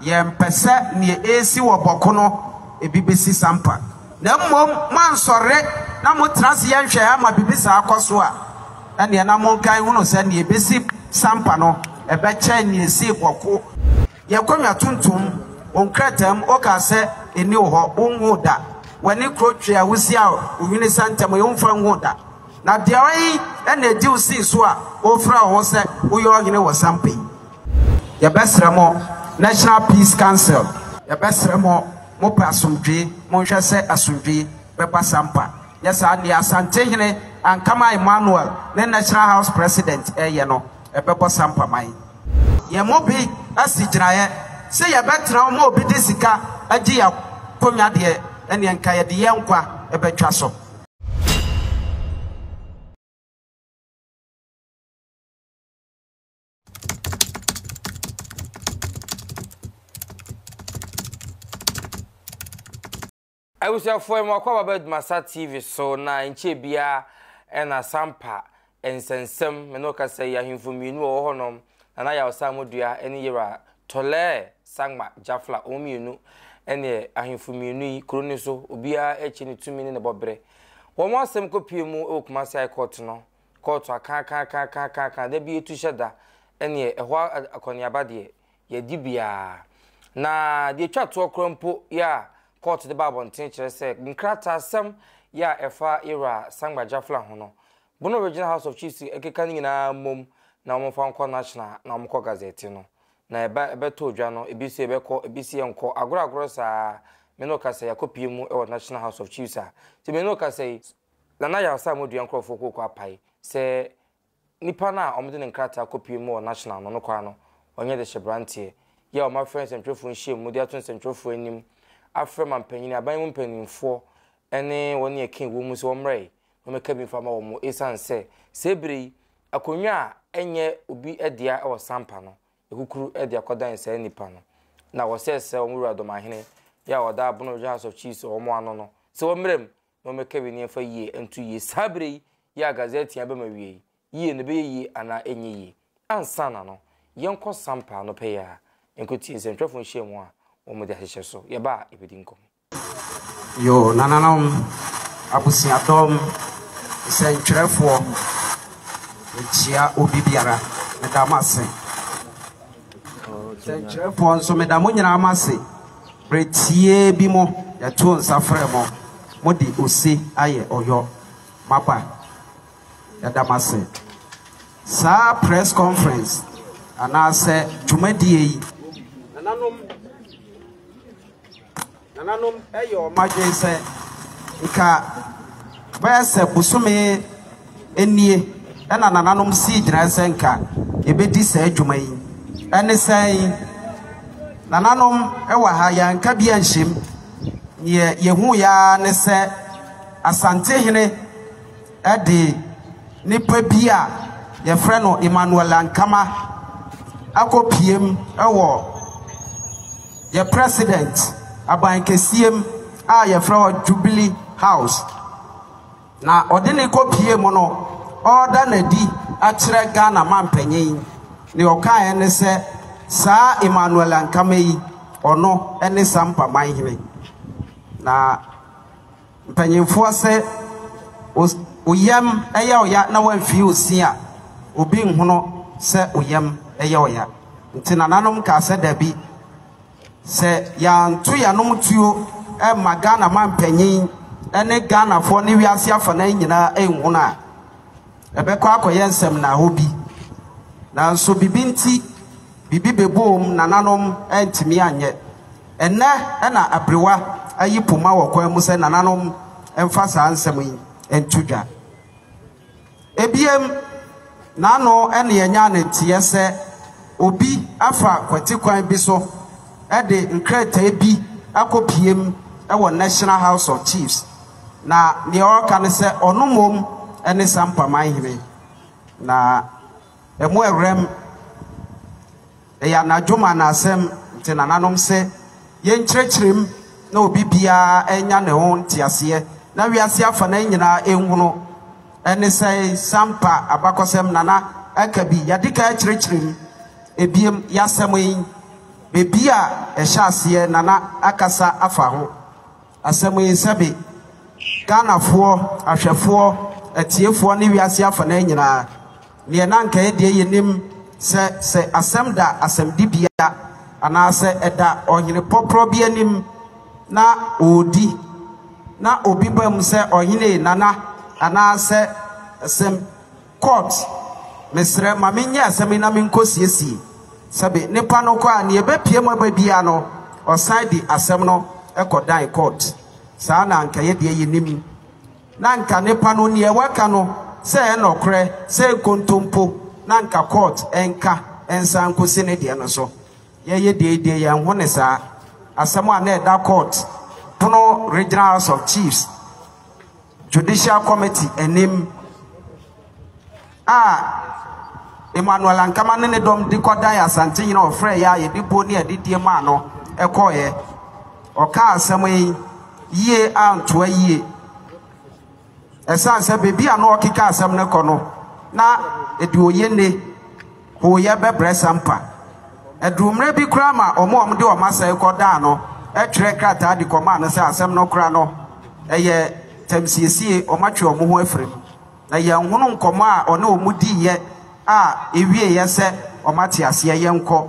Yɛmpɛ sɛ nea ɛresi wɔ Bɔko no bi bɛsi Sampa, na mmom moansɔre na motra ase yɛ nhwɛeɛ ama biribi saa akɔ so a, ɛnneɛ na monka nhunu sɛ nea ɛbɛsi Sampa no bɛkyɛn nea ɛsii Bɔko. Yɛn kɔnwa tuntum, wo nkrataa mu wokaa sɛ ɛnni wo hɔ, wonhuu da, w'ani kuro twe a wosia wo hwene sa ntɛm yi womfa nhuu da, na deɛ ɔhe na ɛdi wo sii so a wofrɛ wo ho sɛ woyɛ ɔhene wɔ Sampa yi? Yɛbɛsrɛ mo, National Peace Council. Yɛbɛsrɛ mo, mopɛ asomdwee, monhwɛ sɛ asomdwee bɛba Sampa. Nyɛ saa nea Asantehene Ankama Emmanuel ne National House President reyɛ no, ɛbɛbɔ Sampa man. Yɛn mu bi asi gyinaeɛ sɛ yɛbɛtena hɔ ma obi de sika agye yɛn akonnwa deɛ, ɛnneɛ nka yɛde yɛn nkwa bɛtwa so. abusuafoɔ yi mɔkɔ baba adumasa tv so na nkyɛn biara ɛna sampa nsɛnsɛm me no kasa yi ahemfo mmienu wɔ hɔ nom na na yawsa amodua ɛne yɛwura tɔlɛɛ sagma jafla wɔn mmienu ɛne ahemfo mmienu yi kuro ne so obiara ɛkyɛ ne tumi ne ne bɔbrɛ wɔn asɛm kɔpie mu ɛwɔ kumasi high court no Kɔɔto akaakaakaakaakaaka da bi etu hyɛ da, ɛnneɛ ɛhɔ a akɔneaba deɛ, yɛadi biara. Na deɛ ɛtwa toɔ koraa mpo yɛ a kɔɔto de ba abɔnten kyerɛ sɛ nkrataasɛm yɛ a ɛfa yɛn Wura Sangba Jafla ho no, Bono Regional House of Chiefs keka ne nyinaa mmom na wɔmfa nkɔ National na wɔkɔ Gazette no. Na ɛba ɛbɛtɔ dwa no, ebi se yɛbɛkɔ, ebi se yɛnkɔ, agorɔagorɔ saa ara. Me ne wo kasa yi, yɛakɔpue mu wɔ National House of Chiefs ha. Nti me ne wo kasa yi, Nana Yarsa a Modua nkorɔfoɔ kooko apae sɛ nipa no a wɔde ne nkrataa kɔpue mu wɔ National no no kwan no ɔnyɛ de hyɛ branteɛ yi a wɔafrɛ nsɛntwerɛfoɔ nhyiam mu de ato nsɛntwerɛfoɔ anim afrɛ mampanin, aban mu mpaninfoɔ ne wɔn a ɛka ɛwɔ mu sɛ wɔmmrɛe na wɔmmɛka bi mfa ma wɔn ɛsiane sɛ saa ɛberɛ yi akonnwa a ɛnyɛ obi dea wɔ Sampa no ɛkukuru de akɔdan saa nipa no na wɔsrɛsrɛ wɔn wuradomahene yi a ɔda Abono Regional House of Chiefs wɔn ano no sɛ wɔmmrɛ mu na wɔmmɛka ebi nneɛma yie nto yie saa berɛ yi yɛ a gazɛte abɛm awiei yie no bɛyɛ yie anaa ɛnyɛ yie ansa na no yɛnkɔ sampa ano pɛ yɛ a yɛnkɔtie nsɛntwerɛfoɔ nhyiamu a wɔde ahyehyɛ so yɛba a yɛbɛdi nkɔmmɔ Yoo nananom, abusuadɔm, nsɛntwerɛfoɔ, mekyia obi biara, meda mo ase. Nsɛntwerɛfoɔ nso, meda mo nyinaa mo ase. Bere tiaa bi mu, yɛtoo nsa frɛɛ mo. Mode ose ayɛ Ɔyɔ. Moaba. Yɛda mo ase. Saa press conference anaasɛ dwumadie yi, nananom nananom yɛ wɔn adwene sɛ nka bɛyɛ sɛ bosome. nie na nananom sii gyinae sɛ anka yɛbɛdi saa dwuma yi. Ɛne sɛn? Nananom wɔ ha, yɛanka bi anhyɛ mu. Deɛ yɛhuiɛ ara ne sɛ Asantehene de nipa bi a yɛfrɛ no Emmanuel Ankama akɔpiem wɔ yɛ President abankɛseɛ mu a yɛfrɛ hɔ Jubilee House. Na ɔde ne kɔpie mu no ɔreda no adi akyerɛ Ghana mampanyin ne ɔkaeɛ ne sɛ saa Emmanuel Ankama yi ɔno ne Sampa manhene na mpanyinfoɔ se oyam yɛ ɔya na wamfie osin a obi nhono sɛ oyam yɛ ɔya nti nananom kaa sɛ dabi Sɛ yɛanto yɛanom tuo amma Ghana mampanyin ne Ghanafoɔ ne wiase afanan nyinaa anhunu a, ɛbɛkɔ akɔyɛ nsɛmnaaho bi. Nanso biribi nti, biribi bɛboom, nananom antumi anyɛ. Ɛnnɛ na aberewa ayi poma wɔ kwan mu sɛ nananom mfa saa nsɛm yi nto dwa. Ebiem, n'ano na yɛnyaa no teɛ sɛ obi afa kwati kwan bi so de nkrataa bi akɔpiem wɔ National House of Chiefs, na nea ɔreka ne sɛ ɔno mmom ne Sampa Manhene, na ɛmo awuram. Ɛyɛ anadwo mu anaasɛm, nti nananom se, Yenkyerɛkyerɛ mu na obi biara nya ne ho nteaseɛ na wiase afanan nyinaa nhunu. Ɛne sɛn Sampa abakɔsɛm nana aka bi? Yɛade kan akyerɛkyerɛ mu. Ebiem, y'asɛm yi, bebia ɛhyɛ aseɛ nana akasa afa ho. Asɛmuyɛsɛbe, Ghanafoɔ, ahwɛfoɔ, atiefoɔ ne wiase afanaa nyinaa, neɛ na anka yɛ deɛ yɛnim sɛ sɛ asɛm da asɛmdibea anaa sɛ ɛda ɔhene pɔprɔ bi anim na ɔredi na obi ba mu sɛ ɔhene Nana anaa sɛ asɛm Court, Mesrɛ ma me nyɛ asɛm yi na me nkɔ siesie. Sɛbe nipa no kɔ a neɛ ɛbɛpue mu aba biara no ɔsan de asɛm no kɔ dan court. Saa na anka yɛ deɛ yɛnim. Na anka nipa no neɛ waka no sɛ ɛyɛ nɔkorɛ sɛ nkontompo na anka court nka nsan nkɔsi ne deɛ no so. Yɛyɛ deɛ yi deɛ yɛnho ne saa. Asɛm a na ɛda court pono Regional House of Chiefs. Judicial Committee anim a Emmanuel Ankama ne ne dɔm de kɔdan Asantehene a ɔfrɛɛ yɛn a yɛde buo ne adidie maa no kɔeɛ. Ɔkaa asɛm yi yie antoa yie ɛsiane sɛ baabi a na ɔrekeka asɛm no kɔ no, na ɛde ɔyɛ nne. hooyɛ bɛbrɛ Sampa. Ɛduu mmerɛ bi koraa ma wɔn a wɔde wɔn asɛe kɔdaa no twerɛɛ krataa de kɔmaa no sɛ asɛm no koraa no, ɛyɛ tamsiesie, wɔatwe wɔn ho afiri mu. Na yɛanhunu nkɔmmɔ a ɔne wɔn diiɛ a ɛwieeɛ sɛ wɔate aseɛ. Yɛnkɔ.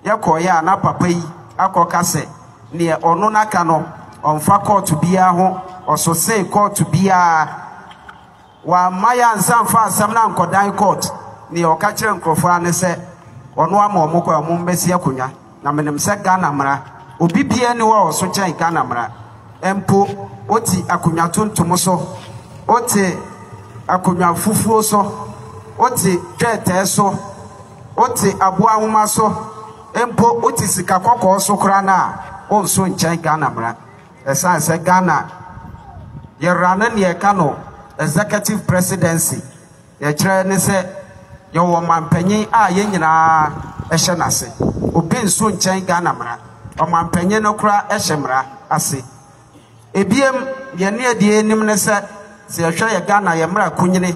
Yɛkɔeɛ a na papa yi akɔka sɛ deɛ ɔno n'aka no, ɔmfa kɔɔto biara ho, ɔsosee kɔɔto biara. Wamma yɛansa mfa asɛm no ankɔdan court, neɛ ɔka kyerɛ nkorɔfoɔ ara ne sɛ ɔno ama ɔmo kwan ɔmo mmɛsi akonwa, na menim sɛ Ghana mmara obi biara nni hɔ a ɔso kyɛn Ghana mmara, mpo wote akonwa tuntum so, wote akonwa fufuo so, wote twɛɛtɛɛ so, wote aboa nwoma so, mpo wote sika kɔkɔɔ so koraa no a, wonso nkyɛn Ghana mmara. Ɛsiane sɛ Ghana yɛra no nea ɛka no Executive Presidency, nea ɛkyerɛ ne sɛ yɛwɔ ɔmampanyin a yɛn nyinaa hyɛ n'ase. Obi nso nkyɛn Ghana mmara. Ɔmampanyin no koraa hyɛ mmara ase. Ebiem, yɛn ne adi anim ne sɛ, sɛ yɛhwɛ yɛn Ghana yɛn mmara kunini.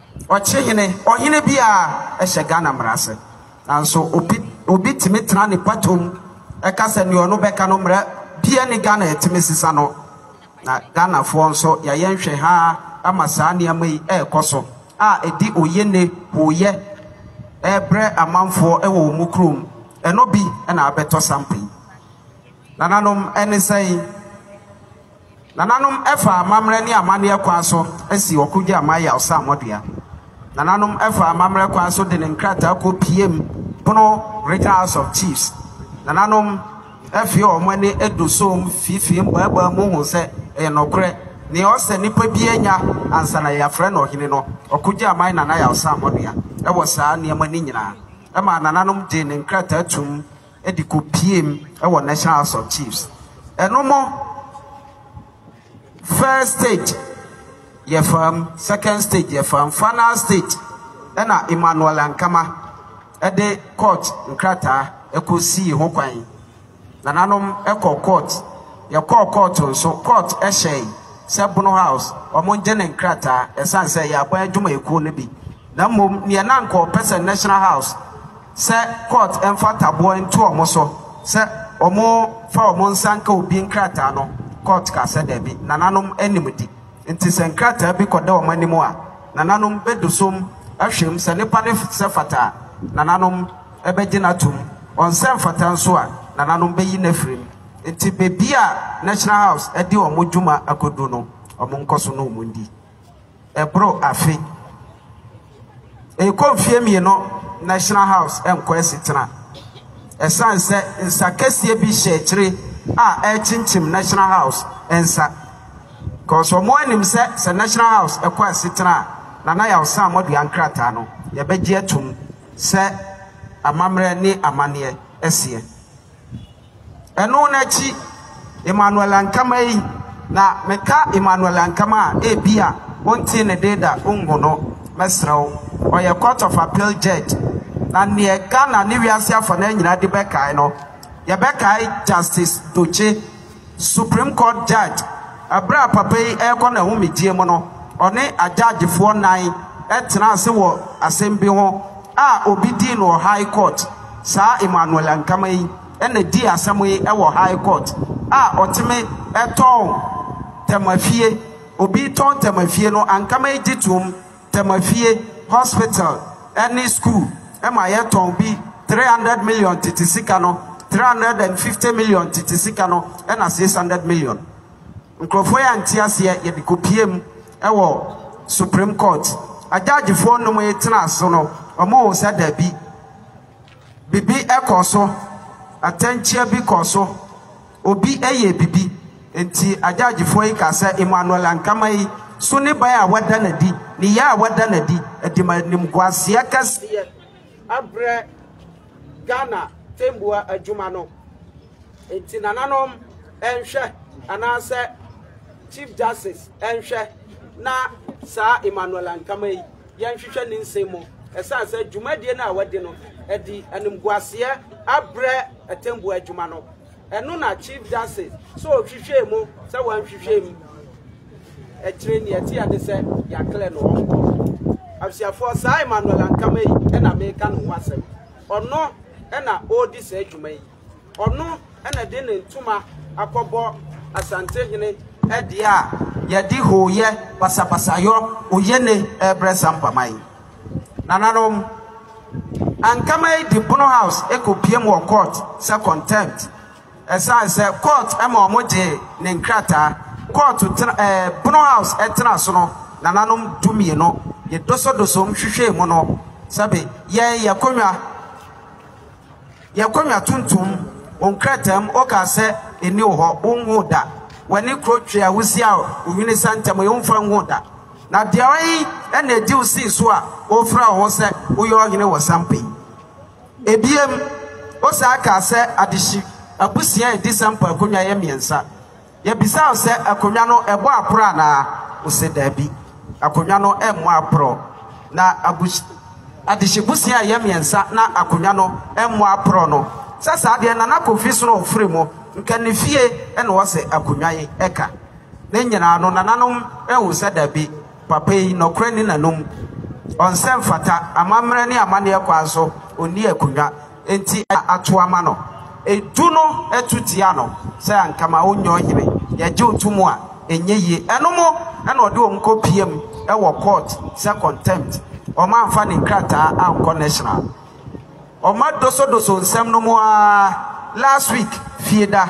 Ɔkye hene, ɔhene bi a ɛhyɛ Ghana mmara ase. Nanso obi obi tumi tena ne patoam ɛka sɛ nea ɔno bɛka no mmara bia ni Ghana yɛtumi sesa no na Ghanafoɔ nso yɛayɛ nhwɛhaa ama saa nneɛma yi ɛrekɔ so a ɛdi oye ne hooyɛ ɛrebrɛ amanfoɔ ɛwɔ wɔn mu kurom ɛno bi ɛna abɛtɔ sampa yi. Nananom ɛne sɛn? Nananom faa amammerɛ ne amanneɛ kwan so sii ɔko gyaa Mayaw sɛ amɔdea. Nananom faa amammerɛ kwan so de ne nkrataa ko piam Bono Regional House of Chiefs. Nananom afie a wɔn ani du so mfifii mmaabaa mu huu sɛ ɛyɛ nokorɛ, nea ɔsɛ nnipa biara nya ansa na yɛafrɛ no ɔhene no. Ɔko gyaa man Nana Yaw sɛ amɔdea wɔ saa nneɛma no nyinaa maa nananom gyee ne nkrataa toom. de kopiem wɔ National House of Chiefs. Ɛno mo first stage yɛ fam, second stage yɛ fam, final stage ɛna Emmanuel Ankama ɛde court nkrataa ɛkɔ sii ho kwan. Nananom ɛkɔ court, yɛkɔɔ court nso, court ɛhyɛe sɛ Bono House wɔn gye ne nkrataa ɛsan sɛ yɛ aban adwumayɛkuo no bi. na mmom neɛ na anka ɔpɛ sɛ National House sɛ court mfa taboɔ nto wɔn so sɛ wɔmfa wɔn nsa nka obi nkrataa no, court kaa sɛ daabi, nananom anim di nti sɛ nkrataa bi kɔda wɔn anim a, nananom bɛdusom ahwɛ mu sɛ nipa no sɛ fata a, nananom bɛgye no atom, ɔnsɛ mfata nso a, nananom bɛyi no afiri mu. Nti baabi a National House de wɔn dwuma akɔduru no, wɔnkɔ so na wɔndi. Ɛboro afe rekɔ mfeɛ mmienu National House nkɔ asetena ɛsiane sɛ nsa kɛseɛ bi hyɛ akyire a ɛrekyinkyim National House nsa because wɔn anim sɛ sɛ National House ɛkɔ asetena a Nana Yaw Sam Modua nkrataa no yɛbɛgye atum sɛ amammerɛ ne amanneɛ ɛseɛ. Ɛno no akyi, Emmanuel Ankama yi, na meka Emmanuel Ankama a, ebia wontee ne de da, wonhu no, mɛsrɛ wo. Ɔyɛ Court of Appeal Judge, na neɛ Ghana ne wiase afa no ara nyinaa de bɛkae no, yɛbɛkae Justice Dokye, Supreme Court Judge. Ɛberɛ a papa yi ɛrekɔ n'ahomegyeɛ mu no, ɔne agyaagefoɔ nnan tenaa ase wɔ asɛm bi ho a obi dii no wɔ High Court. Saa Emmanuel Ankama yi na dii asɛm yi wɔ High Court a ɔteme tɔn Tamafie, obi tɔn Tamafie no Ankama yi gye toom, Tamafie, Hospital ne School ma yɛtɔn bi three hundred million tete sika no, three hundred and fifty million tete sika no na six hundred million. Nkurɔfoɔ yi ante aseɛ, yɛde kɔpueem wɔ Supreme Court. Agyaagyfoɔ nnum yi tenaa so no, wɔhuu sɛ dabi, biribi kɔɔ so, atɛnkyea bi kɔɔ so, obi yɛɛ biribi. Enti agyaagyfoɔ yi kaa sɛ Emmanuel Ankama yi so ne ban a wada no adi, ne yea a wada no adi, de ma animguaseɛ kɛseɛ abrɛ Ghana tɛmboa adwuma no. Nti nananom nhwɛ anaasɛ Chief Justice nhwɛ na saa Emmanuel Ankama yi yɛnhwehwɛ ne nsɛm mu ɛsiane sɛ dwumadie no a wadi no ɛdi animguaseɛ abrɛ atɛmbuo adwuma no ɛno na Chief Justice sɛ ɔhwehwɛ mu sɛ wɔnhwehwɛ mu ɛkyerɛ ni ɛteɛ ne sɛ yɛaklɛ no ɔnkɔ abusuafoɔ saa Emmanuel Ankama yi ɛna meka ne ho asɛm ɔno ɛna ɔredi saa adwuma yi Ɔno na de ne ntoma akɔbɔ Asantehene deɛ a yɛde hooyɛ, basabasayɔ, oyene rebrɛ Sampa man. Nananom, Ankama yi de Bono House kɔpiem wɔ court sɛ contempt ɛsiane sɛ court ma wɔgyee ne nkrataa. Court tena ɛɛ Bono House tena so no nananom du mmienu. Yɛdosodosom hwehwɛɛ mu no, sɛbe yɛn yɛn akonnwa. Yɛn konwa tuntum, wo nkrataa mu wokaa sɛ ɛnni wo hɔ, wonhuu da. W'ani kuro twe a wosia wo hwene sa ntɛm yi womfa nhuu da. Na deɛ ɔyɛ yi na ɛdi wo sei so a wofrɛ wo ho sɛ woyɛ ɔhene wɔ Sampa yi. Ebiem, wosan kaa sɛ adehye abusua a ɛdi Sampa akonwa yɛ mmiɛnsa. Yɛbisaa no sɛ akonnwa no bɔ aporɔ anaa, ose daabi, akonnwa no mmɔ aporɔ. Na abus adehye busua a ɛyɛ mmiɛnsa na akonnwa no mmɔ aporɔ no sɛ saa deɛ Nana Kofi so na ɔfiri mu, nka ne fie na ɔsɛ akonnwa yi ka. Ne nyinaa no nananom hu sɛ daabi, papa yi nɔkorɛ nni n'anom, ɔnsɛ mfata amammerɛ ne amanneɛ kwan so, ɔnni akonnwa. Enti ato ama no, edu no to tia no sɛ anka ma ɔnyɛ ɔhene, yɛgye wo to mu a, ɛnyɛ yie. Ɛno mo na ɔde wɔn kɔ piam wɔ court sɛ contempt, wɔn amfa ne nkrataa ankɔ national. Wɔn adosodoso nsɛm no mo ara, last week, fieda,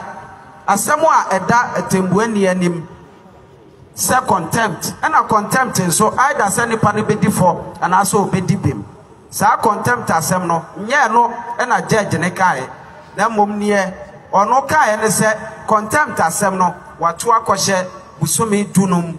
asɛm a ɛda atɛnbuani anim. Sɛ contempt, ɛna contempt nso, either sɛ nipa no bɛdi fɔ anaasɛ ɔbɛdi bem. Saa contempt asɛm no, nyɛ ɛno na judge no kaeɛ, na mmom neɛ ɔno kaeɛ ne sɛ contempt asɛm no wato akɔhyɛ bosome du no mu,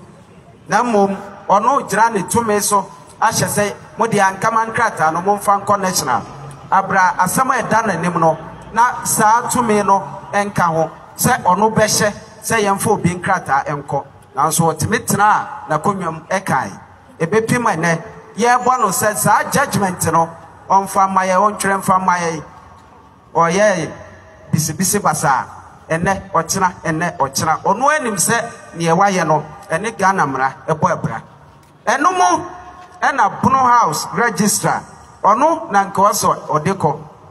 na mmom ɔno gyina ne tumi so ahyɛ sɛ mo deɛ ankama nkrataa no momfa nkɔ national abra asɛm a ɛda n'anim no na saa tumi no nka ho sɛ ɔno bɛhyɛ. sɛ yɛmfa obi nkrataa nkɔ, nanso ɔtumi tenaa n'akonnwa mu kae. Ebepem ɛnnɛ, yɛrebɔ no sɛ saa judgement no ɔmfa mma yɛn, ɔntwerɛ mfa mma yɛn. Ɔyɛɛ bisibisi basaa, ɛnnɛ, ɔkyena, ɛnnɛ, ɔkyena. Ɔno ara nim sɛ deɛ wayɛ no, ɛne Ghana mmara bɔ abira. Ɛno mo na Bono House Registrar, ɔno na nka ɔsɛ ɔde kɔ,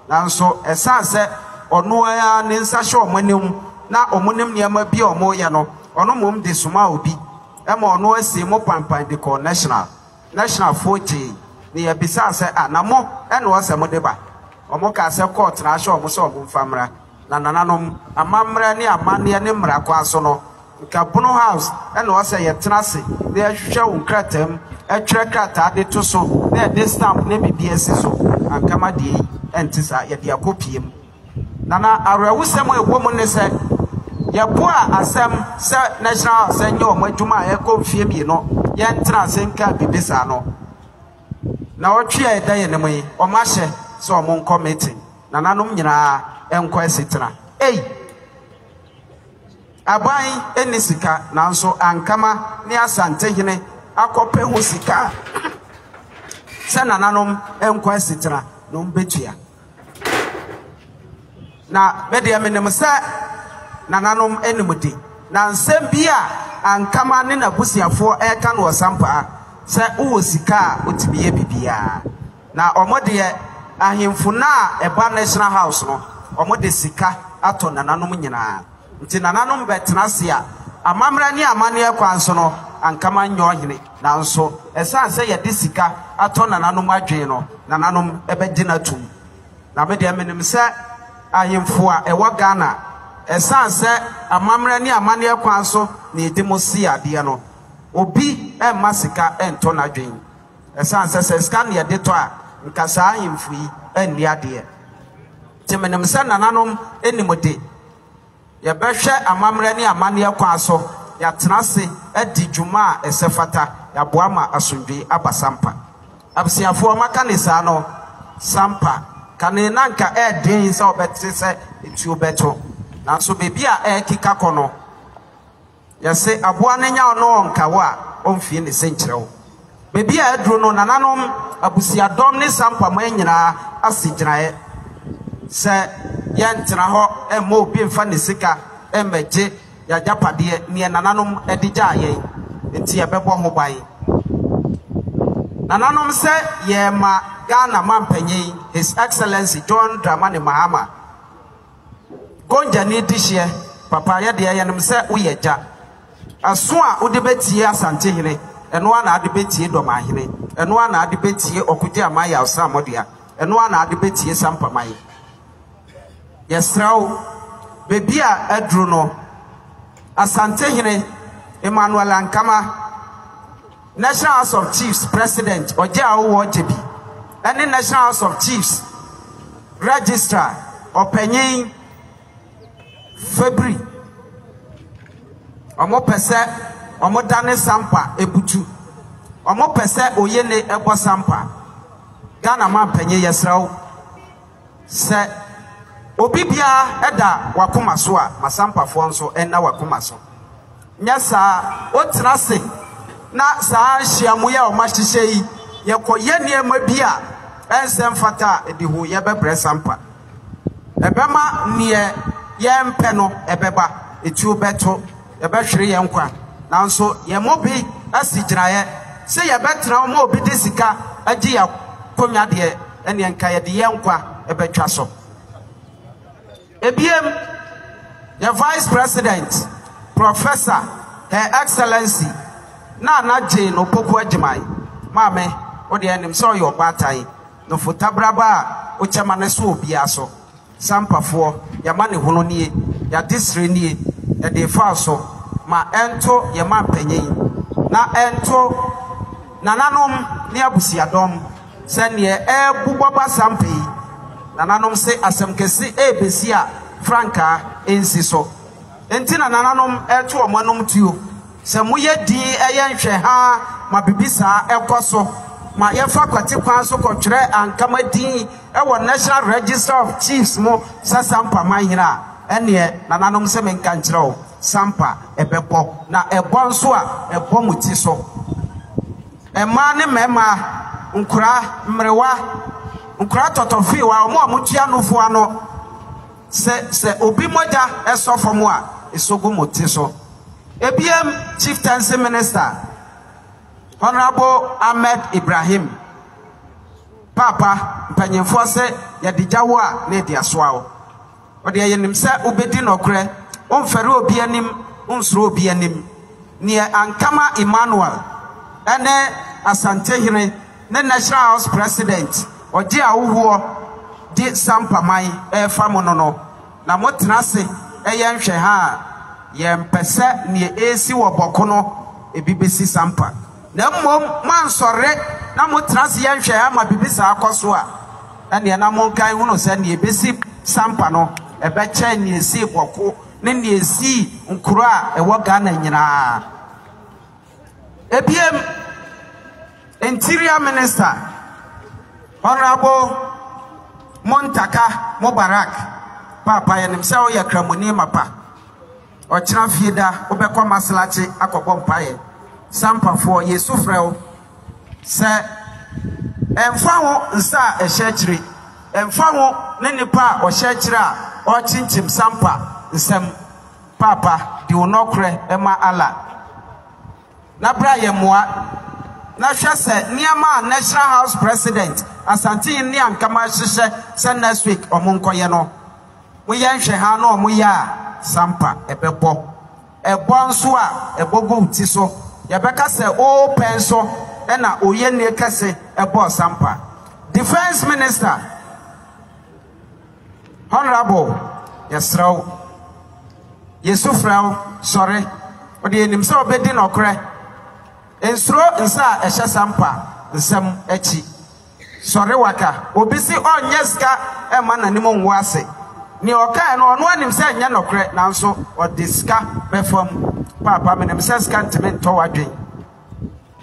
nanso ɛsan sɛ ɔno ara ne nsa hyɛ wɔn anim na wɔn nim nneɛma bi a wɔyɛ no, ɔno mmom de somaa obi ma ɔno ara sii mo panpan de kɔɔ National. National foɔ gyee na yɛbisaa sɛ, ah, na mo na ɔsɛ mode ba? Wɔn kaa sɛ court na ahyɛ wɔn sɛ wɔn mfa mmra. Na nananom amammerɛ ne amanneɛ ne mmara kwan so no, nka Bono House na ɛwɔ sɛ yɛtena ase na yɛhwehwɛ wo nkrataa mu, ɛtwerɛ krataa de to so na yɛde stamp ne biribiara asi so. Anka ma deɛ yi ɛnte saa, yɛde akɔ pie mu. Nana, awerɛhosɛm a ɛwɔ mu ne sɛ, yɛboaa asɛm sɛ National House nyɛ wɔn adwuma a ɛrekɔ mfeɛ mmienu, yɛntena ase nkaa biribi saa no. Nnawɔtwe a ɛda yɛn anim yi, wɔahyɛ sɛ wɔnkɔ meeting. Nananom nyinaa nkɔ asetena ei. Aban nni sika nanso Ankama ne Asantehene akɔpɛ ho sika a sɛ nananom nkɔ asetena na wɔn bɛtua. Na me deɛ menim sɛ nananom nim de na nsɛm bi a Ankama ne n'abusuafoɔ ɛreka no wɔ Sampaa sɛ wowɔ sika a wotumi yɛ biribiara. Na ɔmo deɛ ahemfo no a ɛba National House no, ɔmo de sika atɔ nananom nyinaa. Nti nananom bɛtena ase a, amammerɛ ne amanneɛ kwan so no, anka manyɛ ɔhene. Nanso ɛsiane sɛ yɛde sika atɔ nananom adwene no, nananom bɛgye no atom. Na me deɛ, menim sɛ ahemfo a ɛwɔ Ghana, ɛsiane sɛ amammerɛ ne amanneɛ kwan so na yɛdi mo se adeɛ no, obi mma sika ntɔ n'adwene. Ɛsiane sɛ sɛ sika na yɛde tɔ a, nka saa ahemfo yi anni adeɛ. Nti menim sɛ nananom nim de, yɛbɛhwɛ amammerɛ ne amanneɛ kwan so, yɛatena ase adi dwuma a ɛsɛ fata, yɛaboa ma asomdwoeɛ aba Sampa. Abusuafoɔ, maka ne saa no, Sampa, kane na nka ɛyɛ den sɛ wobɛte sɛ etuo bɛto, nanso baabi a ɛrekeka kɔ no, Yɛse aboa no nyaw no ɔnka wo a ɔnfie ne se nkyerɛ wo. Baabi a aduru no nananom, abusuadɔm ne sampa man nyinaa ase gyinaeɛ sɛ yɛntena hɔ mma obi mfa ne sika mmɛgye y'agyapadeɛ neɛ nananom de gyaa yɛn nti yɛbɛbɔ ho ban. Nananom sɛ yɛrema Ghana Mampanyin His Excellency John Dramani Mahama, Gonjani di hyeɛ papa yɛ deɛ yɛnim sɛ woyɛ agya Ɛso a wode bɛtie Asantehene Ɛno ara na ade bɛtie Dɔmanhene Ɛno ara na ade bɛtie Ɔkojeaman yɛ Ɔsrammɔdea Ɛno ara na ade bɛtie Sampaman Yɛsrɛ wo baabi a aduru no Asantehene Emmanuel Ankama National House of Chiefs President Ɔgye Awowo Ɔgyebi ne National House of Chiefs Registrar Ɔpanyin Fabry wɔpɛ sɛ wɔdane Sampa Ebutu. Wɔpɛ sɛ Oyene bɔ Sampa. Ghana Mampanyin yɛsrɛ wo. Sɛ obi biara da w'akoma so a, ma Sampafoɔ nso nna w'akoma so. Nyɛ saa wotena ase na saa nhyiamu yi a wɔahyehyɛ yi, yɛkɔyɛ nneɛma bi a ɛnsɛ mfata a, ɛde hooyɛ bɛbrɛ Sampa. Ɛbɛma deɛ yɛmpɛ no ɛbɛba, etuo bɛto. Yɛbɛhwere yɛn nkwa, nanso yɛn mu bi asi gyinaeɛ sɛ yɛbɛtena hɔ ma obi de sika agye yɛn akonnwa deɛ, ɛnneɛ anka yɛde yɛn nkwa bɛtwa so. Ebiem, yɛn Vice President, Professor, Her Excellency, Nana Jane Opoku Agyemang, Maame, wo deɛ yɛnim sɛ woyɛ ɔbaatan, Nofo Taberaba a wokyɛ ma no so wɔ obiara so. Sampafoɔ, y'amanehunu nie, y'adesrɛ nie, ɛdee fa so, ma ɛnto yɛn manpanyin, na ɛnto Nananom ne abusuadɔm, sɛ neɛ ɛrebobɔ ba sampa yi, Nananom se asɛm kɛse ɛrebesi a frankaa ɛnsi so, enti na Nananom ɛreto wɔn anom tuo. Sɛ moyɛ dinn yɛ nhwɛhaa ma biribi saa kɔ so ma yɛfa kwati kwan so kɔtwerɛ anka mo din wɔ National Register of Chiefs mu sɛ Sampa manhene a, ɛnneɛ nananom sɛ menka nkyerɛ wo, Sampa bɛbɔ. Na ɛbɔ nso a, ɛbɔ mo ti so. Mmaa ne mmarima, nkwadaa, mmerewa, nkwadaa tɔtɔfee, wɔn a wɔtua nufoɔ ano, Sɛ sɛ obi mogya sɔ fam a, eso gu mo ti so. Ebiem, Chieftaincy Minister, Honourable Ahmed Ibrahim, Paapa, mpanyinfoɔ se yɛde gya wo a na yɛde asoa wo. Wodeɛ yɛnim sɛ wobɛdi nɔkorɛ, womfɛre obi anim, wonsuro obi anim. Neɛ Ankama Emmanuel ne Asantehene Ne National House President ɔgye ahohoɔ de sampa man refa mo no no na mo tena se yɛ nhwɛ ha a yɛ mpɛ sɛ neɛ ɛresi wɔ bɔko no ebi bɛsi sampa na mmom mo ansɔre na mo tena se yɛ nhwɛ ha ma bibi saa kɔ so a ɛneɛ na mo nka nhunu sɛ neɛ ɛbɛsi sampa no ɛbɛkyɛn neɛ ɛsii bɔko ne neɛ ɛsii nkuro a ɛwɔ Ghana nyinaa. Ebiem, Interior Minister, Honourable Muntaka Mubarak, Paapa yɛnim sɛ woyɛ Kramoni mapa, ɔkyena fie da wobɛkɔ Maslakye akɔbɔ mpaeɛ, Sampafoɔ yɛsu frɛ wo sɛ ɛmfa ho nsa a ɛhyɛ akyire, ɛmfa ho ne nipa a ɔhyɛ akyire a ɔrekyinkyim Sampa nsam, Paapa, di wo nɔkorɛ ma Allah, na bra yɛn mmoa, na hwɛ sɛ nneɛma a National House President Asantehene ne Ankama ahyehyɛ sɛ next week wɔn nkɔyɛ no, mo yɛ nhwɛ ha na wɔn yɛ a, sampa ɛbɛbɔ. Ɛbɔ nso a, ɛbɔ gu wo ti so, yɛbɛka sɛ wo pɛ nso na oyɛnie kɛse bɔɔ sampa. Defence Minister. Honourable, yɛsrɛ wo, yɛsu frɛ wo, sɔre. Wode yɛnim sɛ wobɛdi nɔkorɛ. Nsuro nsa a ɛhyɛ Sampa nsam akyi. Sɔre waka. Obi se ɔnyɛ sika mma n'anim nwo ase. Nea ɔkaeɛ no, ɔno ara nim sɛ ɛnyɛ nɔkorɛ, nanso ɔde sika bɛfam. Paapa, menim sɛ sika ntumi ntɔ w'adwene.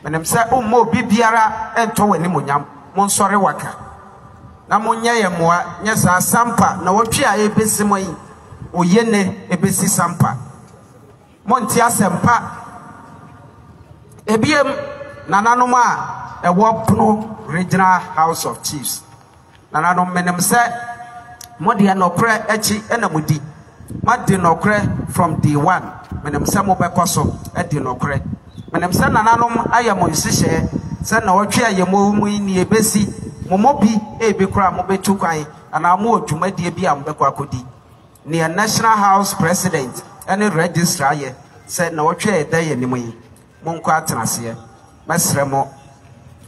Menim sɛ womma obi biara ntɔ w'animuonyam. Monsɔre waka na monyɛ yɛn mmoa, nyɛ saa Sampa nnawɔtwe a ɛrebɛsi mu yi, oye nnɛ ɛbɛsi Sampa. Monte asɛmpa ɛbiam, nananom a ɛwɔ pono Regional House of Chiefs Nananom, menim sɛ mo deɛ nɔkorɛ akyi na mo di. Mo adi nɔkorɛ from day one. Menim sɛ mo bɛkɔ so adi nɔkorɛ. Menim sɛ nananom ayɛ mo nhyehyɛɛ sɛ nnawɔtwe a yɛ mo mu yi nea ɛbɛsi, mo mu bi ebi koraa mo bɛtu kwan anaa mo wɔ dwumadie bi a mo bɛkɔ akɔdi. Neɛ National House President ne Registrar yɛ sɛ nnawɔtwe a ɛda yɛn anim yi, Monkɔ atenaseɛ. Mɛsrɛ mo.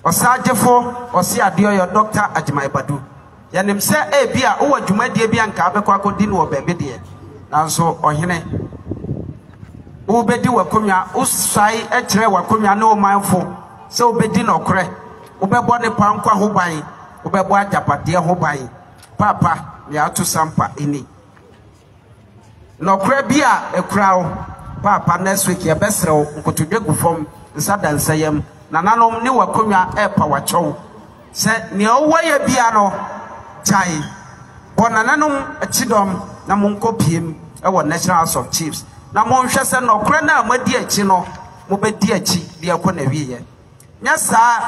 Ɔsaagyefo Ɔseadeɔyɔ Doctor Agyemang Badu, yɛnim sɛ ebia wowɔ dwumadie bi a nka wobɛkɔ akɔdi no wɔ baabi deɛ, nanso Ɔhene, wobɛdi w'akonnwa, wosae kyerɛɛ w'akonnwa ne wo manfo sɛ wobɛdi nɔkorɛ, wobɛbɔ nnepa nkwa ho ban, wobɛbɔ agyapadeɛ ho ban. Paapa, Meato Sampa nni. Nɔkora bi a ɛkura wo. Paapa next week yɛbɛsrɛ wo nkotodwe gu fam nsa da nsa yam nananom ne w'akonnwa repa w'akyɛw sɛ nea wowɔ yɛ bia no gyae bɔ nananom kyidɔm na monkɔ piem wɔ National House of Chiefs na monhwɛ sɛ nɔkora no a moadi akyi no mobɛdi akyi de akɔ n'awieɛ. Nyɛ saa,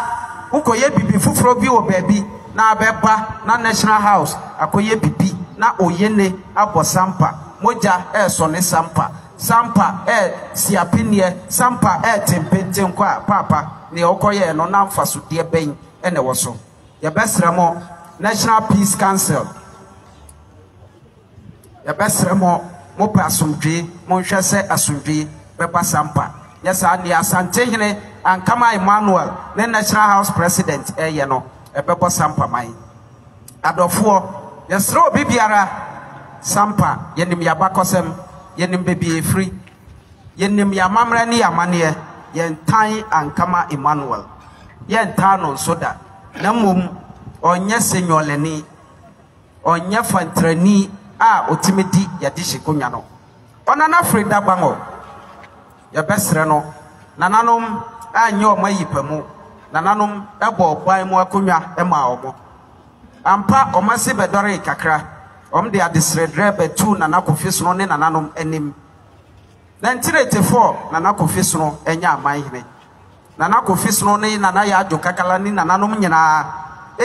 wokɔyɛ bibi foforɔ bi wɔ baabi na abɛba na National House akɔyɛ bibi na Oyene abɔ sampa, mogya ɛɛsɔ ne sampa, sampa ɛɛ si apenneɛ, sampa ɛɛ te mpentenkɔ a, paapa, neɛ wokɔyɛɛ no na mfasodeɛ bɛn na ɛwɔ so? Yɛbɛsrɛ mo, National Peace Council. Yɛbɛsrɛ mo, mopɛ asomdwee, monhwɛ sɛ asomdwee bɛba Sampa. Nyɛ saa deɛ Asantehene Ankama Emmanuel ne National House President reyɛ no, ɛbɛbɔ Sampa man. Adɔfoɔ, yɛsrɛ obi biara, Sampa, yɛnim y'abakɔsɛm, yɛnim baabi a ɛfiri, yɛnim y'amammerɛ ne y'amanneɛ, yɛntan Ankama Emmanuel, yɛntaa no nso da, na mmom ɔnyɛ senyɔlɛni. Ɔnnyɛ fɔntrani a otsime di Yɛdehye konnwa no. Ɔnana fir da gbango. Yɛbɛserɛ no, nananom annyɛ wɔn ayi pa mu, nananom bɔɔ ban mu akonnwa maa wɔn. Ampa, wɔn ase bɛdɔree kakra. Wɔde adesrɛdrɛ bɛtoo Nana Kofi sono ne nananom anim. Nantiretefɔɔ Nana Kofi sono nyɛ amanhene. Nana Kofi Snow ne Nana Yaa Addo Kakala ne nananom nyinaa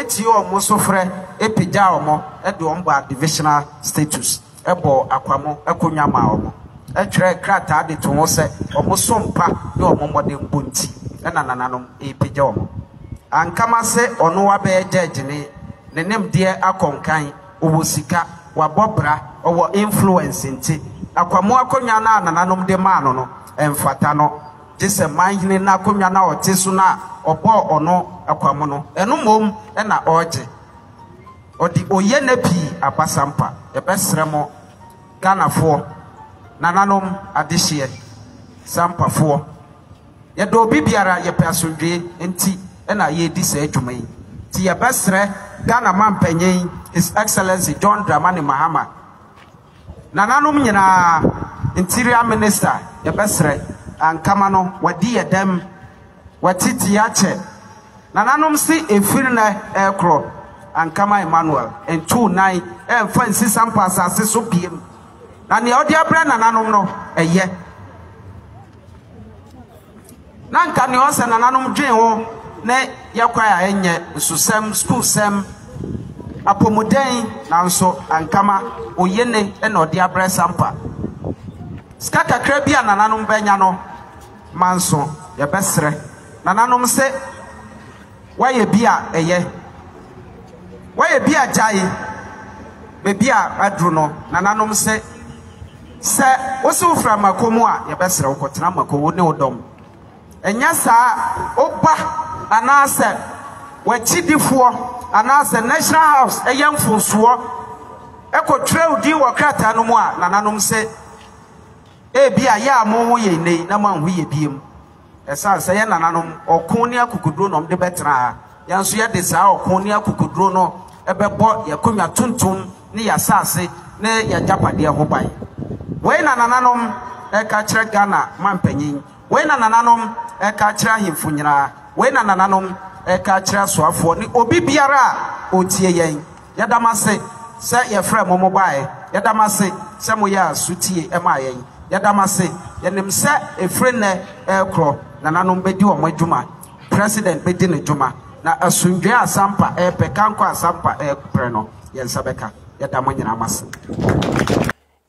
tiee wɔn sufrɛ pagyaa wɔn de wɔn baa Divisional Status, bɔɔ Akwamo akonnwa maa wɔn, twerɛɛ krataa de too hɔ sɛ wɔn som pa ne wɔn mmɔdenbɔ nti na nananom repagya wɔn. Ankama sɛ ɔno wabɛyɛ gyɛɛgyeni, ne nimdeɛ akɔ nkan, ɔwɔ sika, wabɔ bra, ɔwɔ influence nti, Akwamo akonnwa no a nananom de maa no no mfata no. gye sɛ manhene no akonnwa no a ɔte so no a ɔbɔɔ ɔno kwa mu no, ɛno mmom na ɔregye. Ɔde oyɛ nɛ pii abasampa. Yɛbɛsrɛ mo Ghanafoɔ, nananom, adehyeɛ, sampafoɔ, yɛdɔ obi biara, yɛpɛ asomdwoe nti na yɛredi saa dwuma yi. Nti yɛbɛsrɛ Ghana Mampanyin, His Excellency John Dramani Mahama, Nananom nyinaa interior minister yɛbɛsrɛ ankama no wadi yɛ dɛm wati ti akyɛ nananom se efiri nɛ ɛɛkorɔ ankama Emmanuel ntuu nan ɛnfa nsi sampa asase so biem na neɛ ɔde abrɛ nananom no ɛyɛ Na nka nea ɔsɛ nananom dwen ho ne yɛ kwae a ɛnyɛ nsosɛm, sukuusɛm, apɔmuden, nanso ankama oye ne na ɔde abrɛ Sampa. Sika kakra bi a nananom bɛnya no, manso yɛbɛsrɛ nananom se, Wayɛ bi a ɛyɛ. Wayɛ bi a gyae. Baabi a aduru no, nananom se, Sɛ wose wofira mmako mu a, yɛbɛsrɛ wo kɔtena mmako, wo ne wo dɔm. Ɛnyɛ saa a, wo ba anaasɛ w'akyidifoɔ anaasɛ National House yɛ mfomsoɔ kɔtwerɛ wo din wɔ krataa no mu a, nananom se, Ebia yɛ a moho yɛn nnɛ yi na moanho yɛn bio. Ɛsiane sɛ yɛn nananom ɔko ne akokoduro na wɔde bɛtena ha, yɛn nso yɛde saa ɔko ne akokoduro no bɛbɔ yɛn akonnwa tuntum ne yɛn asase ne yɛn agyapadeɛ ho ban. Wei na nananom reka akyerɛ Ghana mampanyin, wei na nananom reka akyerɛ ahemfo nyinaa, wei na nananom reka akyerɛ asoafoɔ ne obi biara a ɔretie yɛn. Yɛda mo ase sɛ yɛfrɛɛ mo, mobaeɛ. Yɛda mo ase sɛ moyɛɛ sotie maa yɛn. Yɛda mo ase. Yɛnim sɛ ɛfiri nnɛ rekorɔ, nananom bɛdi wɔn adwuma, President bɛdi ne dwuma, na asomdwoeɛ a Asampa repɛ, kankɔ a Asampa repɛ no, yɛn nsa bɛka. Yɛda mo nyinaa mo ase.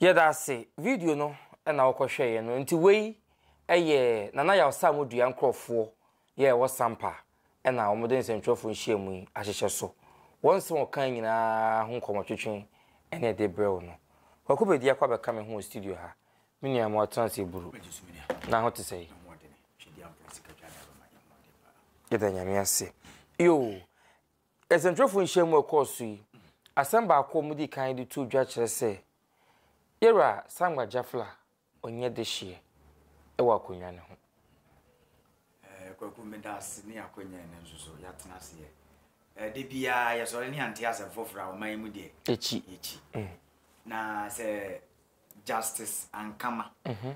Yɛda ase. Video no na wokɔhwɛeɛ no nti wei yɛ Nana Yaw Samu dua nkorɔfoɔ yɛ a ɛwɔ Sampa na wɔde nsɛntwerɛfoɔ nhyiamu yi ahyehyɛ so. Wɔn nsɛm a wɔkae nyinaa ho nkɔmmɔtwetwe ne ɛde brɛ wo no. Kwaku Bedi akɔ abɛka me ho wɔ studio ha. Me nua ma ɔtena ase buru. Na ho te sɛn? Yɛda Nyame ase. Yo, nsɛntwerɛfoɔ nhyiamu a ɛkɔɔ so yi, asɛm baako a wɔdii kan de too dwa kyerɛ sɛ yɛwura Sangba Jafla Ɔnyɛ dehyeɛ wɔ akonnwa no ho. Ɛɛ Kwaku meda ase ne akonnwa yi no nso so yɛatena ase yɛ ɛɛ de biara yɛsɔre ne yɛnte asɛm foforɔ a ɔman yi mu deɛ yɛkyi yɛkyi mm. na sɛ Justice Ankama mm -hmm.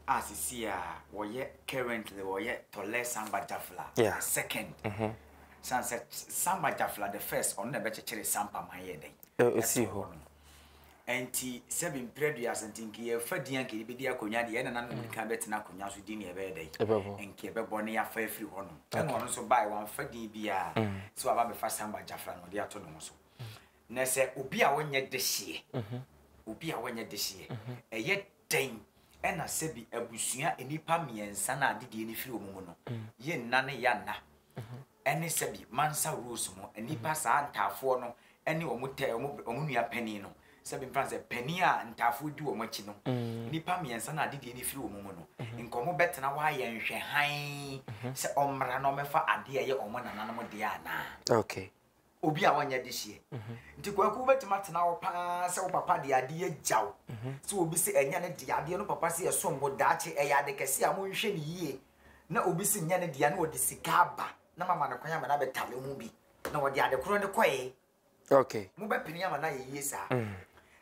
a sisi a wɔyɛ currently wɔyɛ Tɔlɛ Samba Jafla yeah. second mm -hmm. san sɛ Samba Jafla the first ɔno na ɛbɛkyekyere Sampa man yɛ dɛn ɛsii hɔ no. Ɛnti sɛ bi mprɛ dua ase nti nka yɛfa din anka yɛbɛdi akonnwa deɛ ɛna nana mmirika bɛtena akonnwa so din na ɛbɛyɛ dɛn nka ɛbɛbɔ ne yɛafa afiri hɔ nom ɛna ɔno nso bae wamfa din biara mm. sɛ waba bɛfa samba gyafra na ɔde ato ne ho so mm. na sɛ obi a wɔnyɛ dehyeɛ mhm. obi a wɔnyɛ dehyeɛ mhm. ɛyɛ dɛn ɛna sɛ bi abusua nnipa mmiɛnsa no a didie no firi wɔn mu no mm. yɛ nna ne yɛ nna ɛne sɛbi Mansa rules mu nnipa saa ntaafoɔ no ne wɔn tɛ wɔn wɔn nua panin no sɛbi mfa sɛ panin a ntaafoɔ di wɔn akyi no nnipa mmiɛnsa no adedie no firi wɔn mu no nka wɔn bɛtena hɔ ayɛ nhwɛ hann sɛ ɔmmra na ɔmmɛfa adeɛ a ɛyɛ wɔn nananom deɛ anaa. Okay. obi a ɔnyɛ dehyeɛ. Nti Kwaku wobɛtumi atena hɔ paa sɛ wo papa de adeɛ agya wo sɛ obi se ɛnyɛ ne dea, adeɛ no papa se ɛsom bo, daakye ɛyɛ ade kɛse a monhwɛ no yie na obi se nyɛ ne dea na ɔde sika aba na mama no kwan ama no abɛtale ho bi na ɔde ade korɔ no kɔe. Okay. Mobɛpene ama no ayɛ yie saa.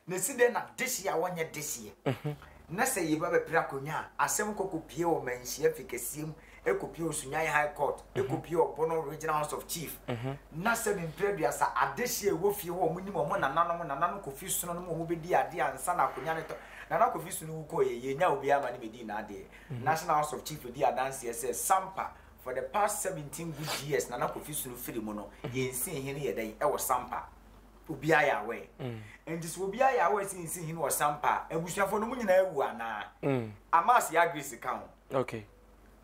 Na esi dɛn na dehye a wɔnyɛ dehyeɛ na sɛ yɛba bɛpere akonnwa a, asɛm kɔ kɔpue wɔ manhyia fi kɛseɛ mu, ɛkɔpue wɔ Sunyani High Court, ɛkɔpue wɔ Bono Regional House of Chief, na sɛ me mprɛ aduasa adehyeɛ a ɛwɔ fie hɔ a wɔnim wɔn nananom, Nananom Kofi Sono no mu a wɔbɛdii adeɛ ansa na akonnwa no tɔ. Nana Kofi Sono wu kɔeɛ, yɛnyaa obiara ma ne bɛdii n'adeɛ. National House of Chief di adanseɛ sɛ, Sampa, for the past 17 good years Nana Kofi Sono firi mu no, yɛn nsiihi no yɛ dɛn wɔ Sampa? obiara yɛ aware mm. nti sɛ obiara yɛ aware sɛ nsi hene ɔsampa a abusuafoɔ no mu nyinaa awu anaa mm. amas yɛ agresi ka ho okay.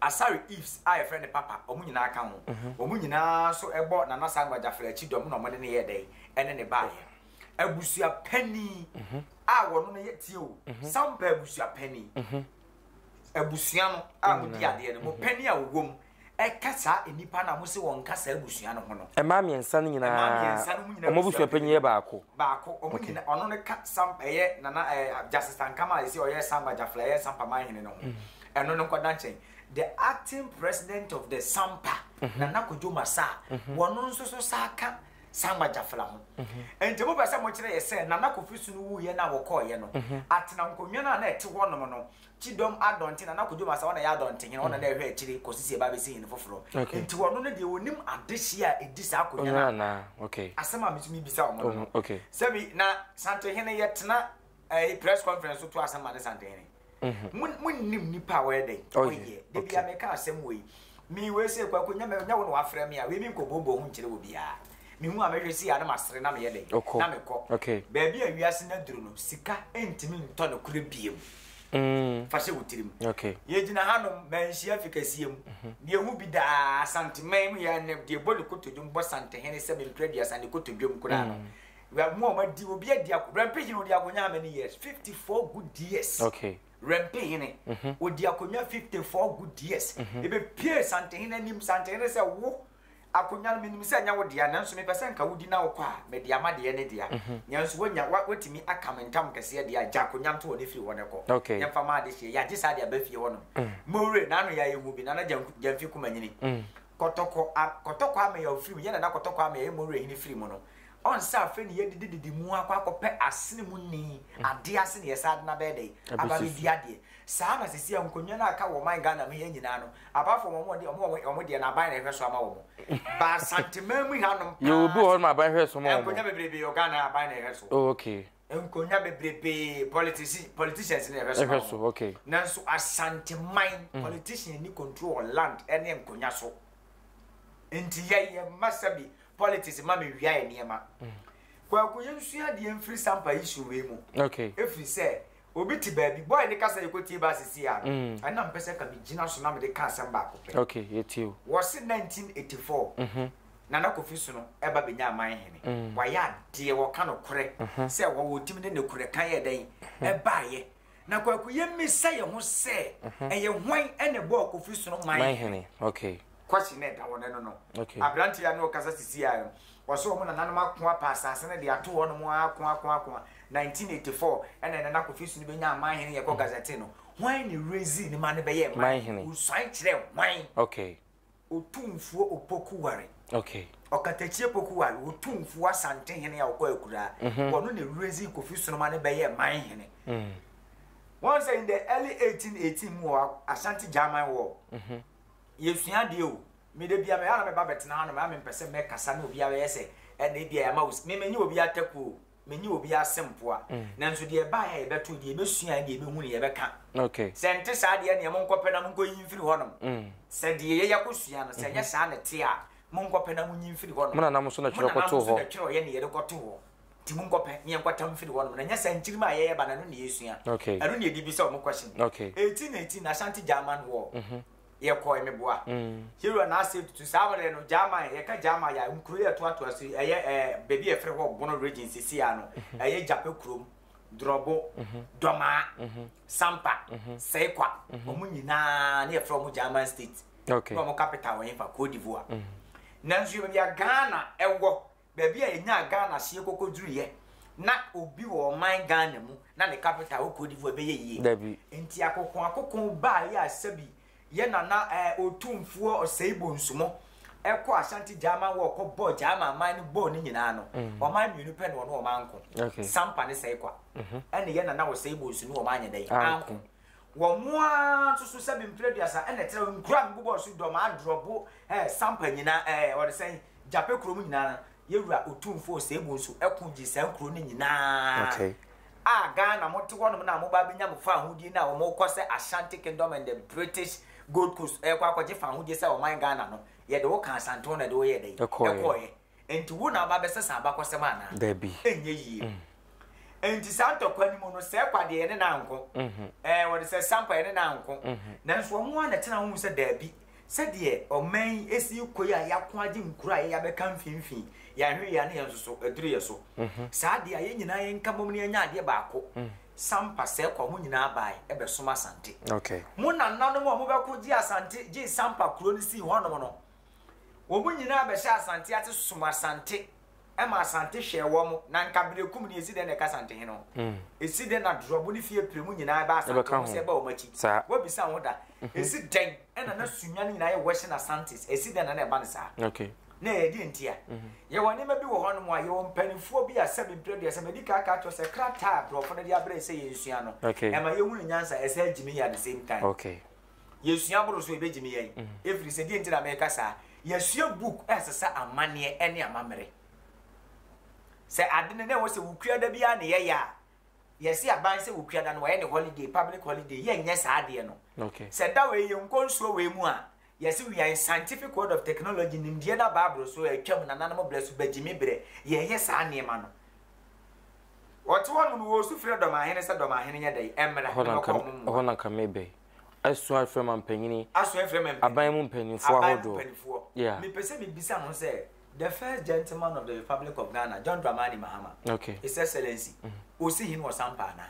asare ifs a yɛfrɛ ne papa ɔmo nyinaa ka ho mm -hmm. ɔmo nyinaa so ɛbɔ nana saa nwagyafra akyi dɔm na ɔmo ne ne yɛ dɛn ɛne ne baayɛ abusua panin mm -hmm. a wɔno no yɛ tie o mm -hmm. sampa abusua panin mm -hmm. abusua no a modi mm-hmm. adeɛ no mu mm-hmm. pɛni a wɔwɔ mu ɛka saa nnipa no a mose wɔnka saa abusua no ho no ɛma mmiɛnsa no nyinaa ɔmo abusua panyin yɛ baako baako ɔmo nyina ɔno no ka sam ɛyɛ nana ɛɛ jasitankama a ɛsɛ ɔyɛ samba jafla ɛyɛ sampa manhene no ho mm. ɛno no nkɔda nkyɛn the acting president of the sampa nana kodwo masa wɔn nso so saa ka saa magyafra ho. Enti mopɛ sɛ mokyerɛ yɛ sɛ Nana Kofi Sunu wuiɛ no a wɔkɔɔeɛ no, Atena nkonnwa no a na ɛte hɔnom no, Kyidɔm Adɔnten, Nana Kodwo Masa, ɔna ɛyɛ Adɔntehene, ɔna na ɛhwɛ akyire kɔsi sɛ yɛbɛabɛsi hene foforɔ. Enti ɔno no deɛ ɔnim adehyeɛ a ɛdi saa akonnwa no a, asɛm a me nso mebisa wɔn no no, sɛbi na Santehene yɛtena press conference so to asɛm ma ne Santehene. Mm-hmm. monnim nnipa a wɔyɛ dɛn oh, ɔyɛ da bia meka asɛm wei me wei sɛ kwako nyɛ nyɛ wo na wafrɛ me a wei menkɔboobɔ ho nkyerɛ wɔ biaa mehu a mehwɛ si a na masere na meyɛ dɛn na mekɔ baabi a wiase no aduru no sika ntumi ntɔ no korɛ biam mm. fa hyɛ wo tirim yɛgyina hanom manhyia fi kɛseɛ mu mhm. deɛ hu bi daa santeman mu yɛ deɛ bɔ ne kotodwom bɔ santehene sɛ menkura duasa ne kotodwom koraa no mm. Wia mu a ɔma di obi adi ako rɛmpe hene odi akonya how many years fifty four good years okay rɛmpe hene mhm. odi akonya fifty four good years mhm. ebe pie santehene anim santehene sɛ wo akonya no menim sɛ ɛnyɛ wo dea nanso mepɛ sɛ nka wodi na wokɔ a mede ama deɛ ne dea mhm. nanso woanya woatumi aka me ntam kɛseɛ deɛ agya akonya nto hɔ no firi hɔ no kɔ yɛmfa ma ade hyeɛ yɛagye saa de aba fie hɔ no mm. mowere naano yɛ ayɛhu bi nana gyamfi kuma nyini mm. kɔtɔkɔ kɔtɔkɔ amɛyɛ ofiri mu yɛna na kɔtɔkɔ amɛyɛ yɛ mowere hene firi mu no Ɔn sɛ afei na yɛdidi didi mu akɔ akɔpɛ asene mu nni adeɛ ase na yɛsan de no abɛyɛ dɛn? Aba abɛdi adeɛ. Saa na seesei nkonnwa no a aka wɔ ɔman Ghana mu ha yi nyinaa no, apart from wɔn deɛ, wɔn wɔn wɔn deɛ no aban na ɛhwɛ so ama wɔn. Ba Asanteman mu hanom paa. Yɛwɔ bi wɔ hɔ nom aban hwɛ so ma wɔn. Nkonnwa bebrebe yɛ wɔ Ghana ha aban na ɛhwɛ so. Oh okay. nkonya bebrebe politisi politicians ne ɛhwɛ so ɛhwɛ so okay nanso asanteman mm. politician ni control land ɛne nkonya so nti yɛyɛ masa bi politics ma me wia yɛ nneɛma mm. kwaku yɛn sua deɛ mfiri sampa yi so wei mu okay efiri sɛ obi te baabi bɔyɛ ne kasa yɛ ko tie baasi si ya mm. ɛna mpɛ sɛ ka mi gyina so na mi de ka asɛm baako pɛ okay yɛ tie o wɔsi nineteen eighty four. Mhm. Nana Kofi Sono ɛba bɛnya aman hene. Wayɛ adeɛ, wɔka nokorɛ sɛ wɔwɔ timi ne nokorɛ ka yɛ dɛn ɛbaeɛ. Na Kwaku yɛ misa yɛ ho sɛ ɛyɛ hwan ɛna ɛbɔɔ Kofi Sono man hene? Question no ɛda hɔ no ɛno no. Aberanteɛ yi a na ɔkasa sisi a no, ɔse wɔn nananom ako apa asase no de ato hɔ nom aa ko ako ako a 1984 ɛna Nana Kofi Sono bɛnya aman hene yɛkɔ Gazette no, hwan na ɛrezi ne ma no bɛyɛ man hene? Wosuan kyerɛɛ hwan? Otumfuo Opoku Ware, Ɔkatakyie Poku Ware, Otumfuo Asante Hene a ɔkɔ akuraa, mhm. wɔno na Ewuradzi Kofi Sonoma ne bɛyɛɛ man hene. Mm. Wɔn sɛ in the early 1818 mu wɔ Ashanti German War, mhm. yɛsua adeɛ o, mede bia mɛyɛ na mɛba bɛtena ha no mɛa mempɛ sɛ mɛkasa na obiara bɛyɛ sɛ ɛna ebia yɛama wo, memenye obi atakuo o. me ne obi ase mpoa, nanso deɛ ɛbaeɛ a yɛbɛtoo, deɛ yɛbɛsuae, deɛ yɛbɛhu no yɛbɛka. Sɛ ɛnte saa deɛ ɛnneɛ monkɔpɛ na monkɔyi mfiri hɔnom. Sɛ deɛ yɛyɛ kɔsua no, sɛ ɛnyɛ saa na ɛte a, monkɔpɛ na monyi mfiri hɔnom. Mo nananom nso na twerɛ kɔtoo hɔ. Mo nananom nso na twerɛeɛ na yɛde kɔtoo hɔ. Nti monkɔpɛ na yɛnkɔtam mfiri hɔnom. Na ɛnyɛ saa nkyirimma a yɛyɛ ba no, ɛno na yɛsua. Ɛno na yɛde bisa wɔn question. 1818 Ashanti German War. yɛkɔe meboa hero na asɛm tutu saa mmerɛ no German yɛka German yɛ nkuro yɛ toatoa so ɛyɛ ɛɛ baabi yɛ frɛ hɔ Bono region sisi ya no ɛyɛ Gyapɛ kurom Drɔbo Dɔmaa Sampa Sɛkwa wɔn nyinaa ne yɛ frɛ wɔn German state na wɔn capital wɔn yɛ fa Cote d'Ivoire nanso yɛ baabi a Ghana ɛwɔ baabi a yɛnyaa Ghana seɛ kɔkɔ duruiɛ na obi wɔ ɔman Ghana mu na ne capital wɔ Cote d'Ivoire ɛbɛyɛ yie Dabi. nti akokɔn akokɔn baeɛ a sɛbi yɛ nana ɛɛ Otumfuo Osei Bonsumo ɛkɔ Ashanti Gyaman War kɔ bɔɔ Gyaman man no bɔɔ ne nyinaa no ɔman mmienu pɛ na ɔne ɔman nko Okay. Sampa ne Sɛkwa ɛne yɛ nana Osei Bonsu ne ɔman anyɛ dɛn Anko. anko Wɔ mo ara nso so sɛbe mpire aduasa ɛna ɛtrɛw nkuro a mebobɔɔ so dɔm adrɔbo ɛɛ sampa nyinaa ɛɛ ɔde sɛn gyapɛ kuro mu nyinaa no yɛwura otumfoɔ seebu nso ɛko gye saa nkuro no nyinaa a Ghana mo te hɔ nom na mo ba bɛnya mo fa ahodie no a wɔn kɔ sɛ Ashanti Kingdom and the British Gold Coast ɛkɔ akɔgye fa ahodie sɛ ɔman Ghana no yɛde wo ka asantew na ɛde wo yɛ dɛ ɛkɔɔyɛ Enti wo na aba abɛsɛ saa abakɔsɛm anaa? Dabi. Ɛnyɛ yie. Enti saa ntɔkwa no mu no, Sɛɛkwa deɛ yɛne no anko. Ɛɛ, wɔde sɛ Sampa yɛne no anko. Nanso wɔn ara na ɛtena ho hu sɛ dabi, sɛdeɛ ɔman yi si rekɔ yi a yɛako agye nkuro a yɛyɛ abɛka mfimfini, yɛanhwɛ yie a na yɛn nso so aduru yɛn so. Saa deɛ a yɛn nyinaa yɛnka mmom na yɛnyɛ adeɛ baako. Sampa, Sɛɛkwa, mo nyinaa baae ɛbɛsom Asante. Mo nananom a wɔbɛko gyee Asante, gyee Sampa kuro no sii hɔnom no, Wɔn nyinaa bɛhyɛ Asante ase som Asante ma Asante hwɛɛ wɔn. Na nka berɛ kum ni, ɛsi dɛn na ɛka Asante hene ho? Ɛsi dɛn na Dorɔbo ne Fie Premu nyinaa ɛba Asante ho sɛ ɛba wɔn akyi? Woabisa ho da? Ɛsi dɛn na na Sunya no nyinaa yɛ Western Asantes? Ɛsi dɛn na na ɛba no saa? Na ɛyɛ deɛn ntia? Yɛwɔ nneɛma bi wɔ hɔnom a, yɛwɔ mpanimfoɔ bi a sɛbe mprɛ aduasa, madi kan aka akyerɛ wo sɛ krataa a Borɔfo no de abrɛ yɛn sɛ yɛnsua no, ɛma yɛhunu nyansa, ɛsan gye me yɛ at the same time. Yɛsua boro so a, ɛbɛgyimi yɛn. Ɛfiri sɛ, deɛ nti na meka saa, yɛasua book a ɛsesa amanneɛ ne amammerɛ. Sɛ ade no na ɛwɔ sɛ wokua da biara na yɛyɛ a, yɛse aban sɛ wokua da no wɔyɛ ne holiday, public holiday, yɛnyɛ saa adeɛ no. Sɛ da wei yɛnkɔ nsuo wei mu a, yɛse we are in scientific world of technology, nimdeɛ no aba aboro so, atwam, nananom berɛ so, bɛgyimi berɛ, yɛyɛ saa nneɛma no. Wɔte hɔ nom no, wɔresu frɛ Dɔmahene sɛ Dɔmahene nyɛ dɛn? Mmra Ɛhɔ na na nka mɛkɔ ɔmo mmoa. ɛhɔ na nka mebɛ asua afrɛ ma mpanyini, Asua afrɛ ma mpanyini, aban mu mpanyinfoɔ aban mu ahodoɔ. mpanyinfoɔ. Yeah. Mepɛ sɛ mebisa ho sɛ, the first gentleman of the Republic of Ghana, John Dramani Mahama, Okay. His Excellency, ɔsi hene wɔ Sampa anaa?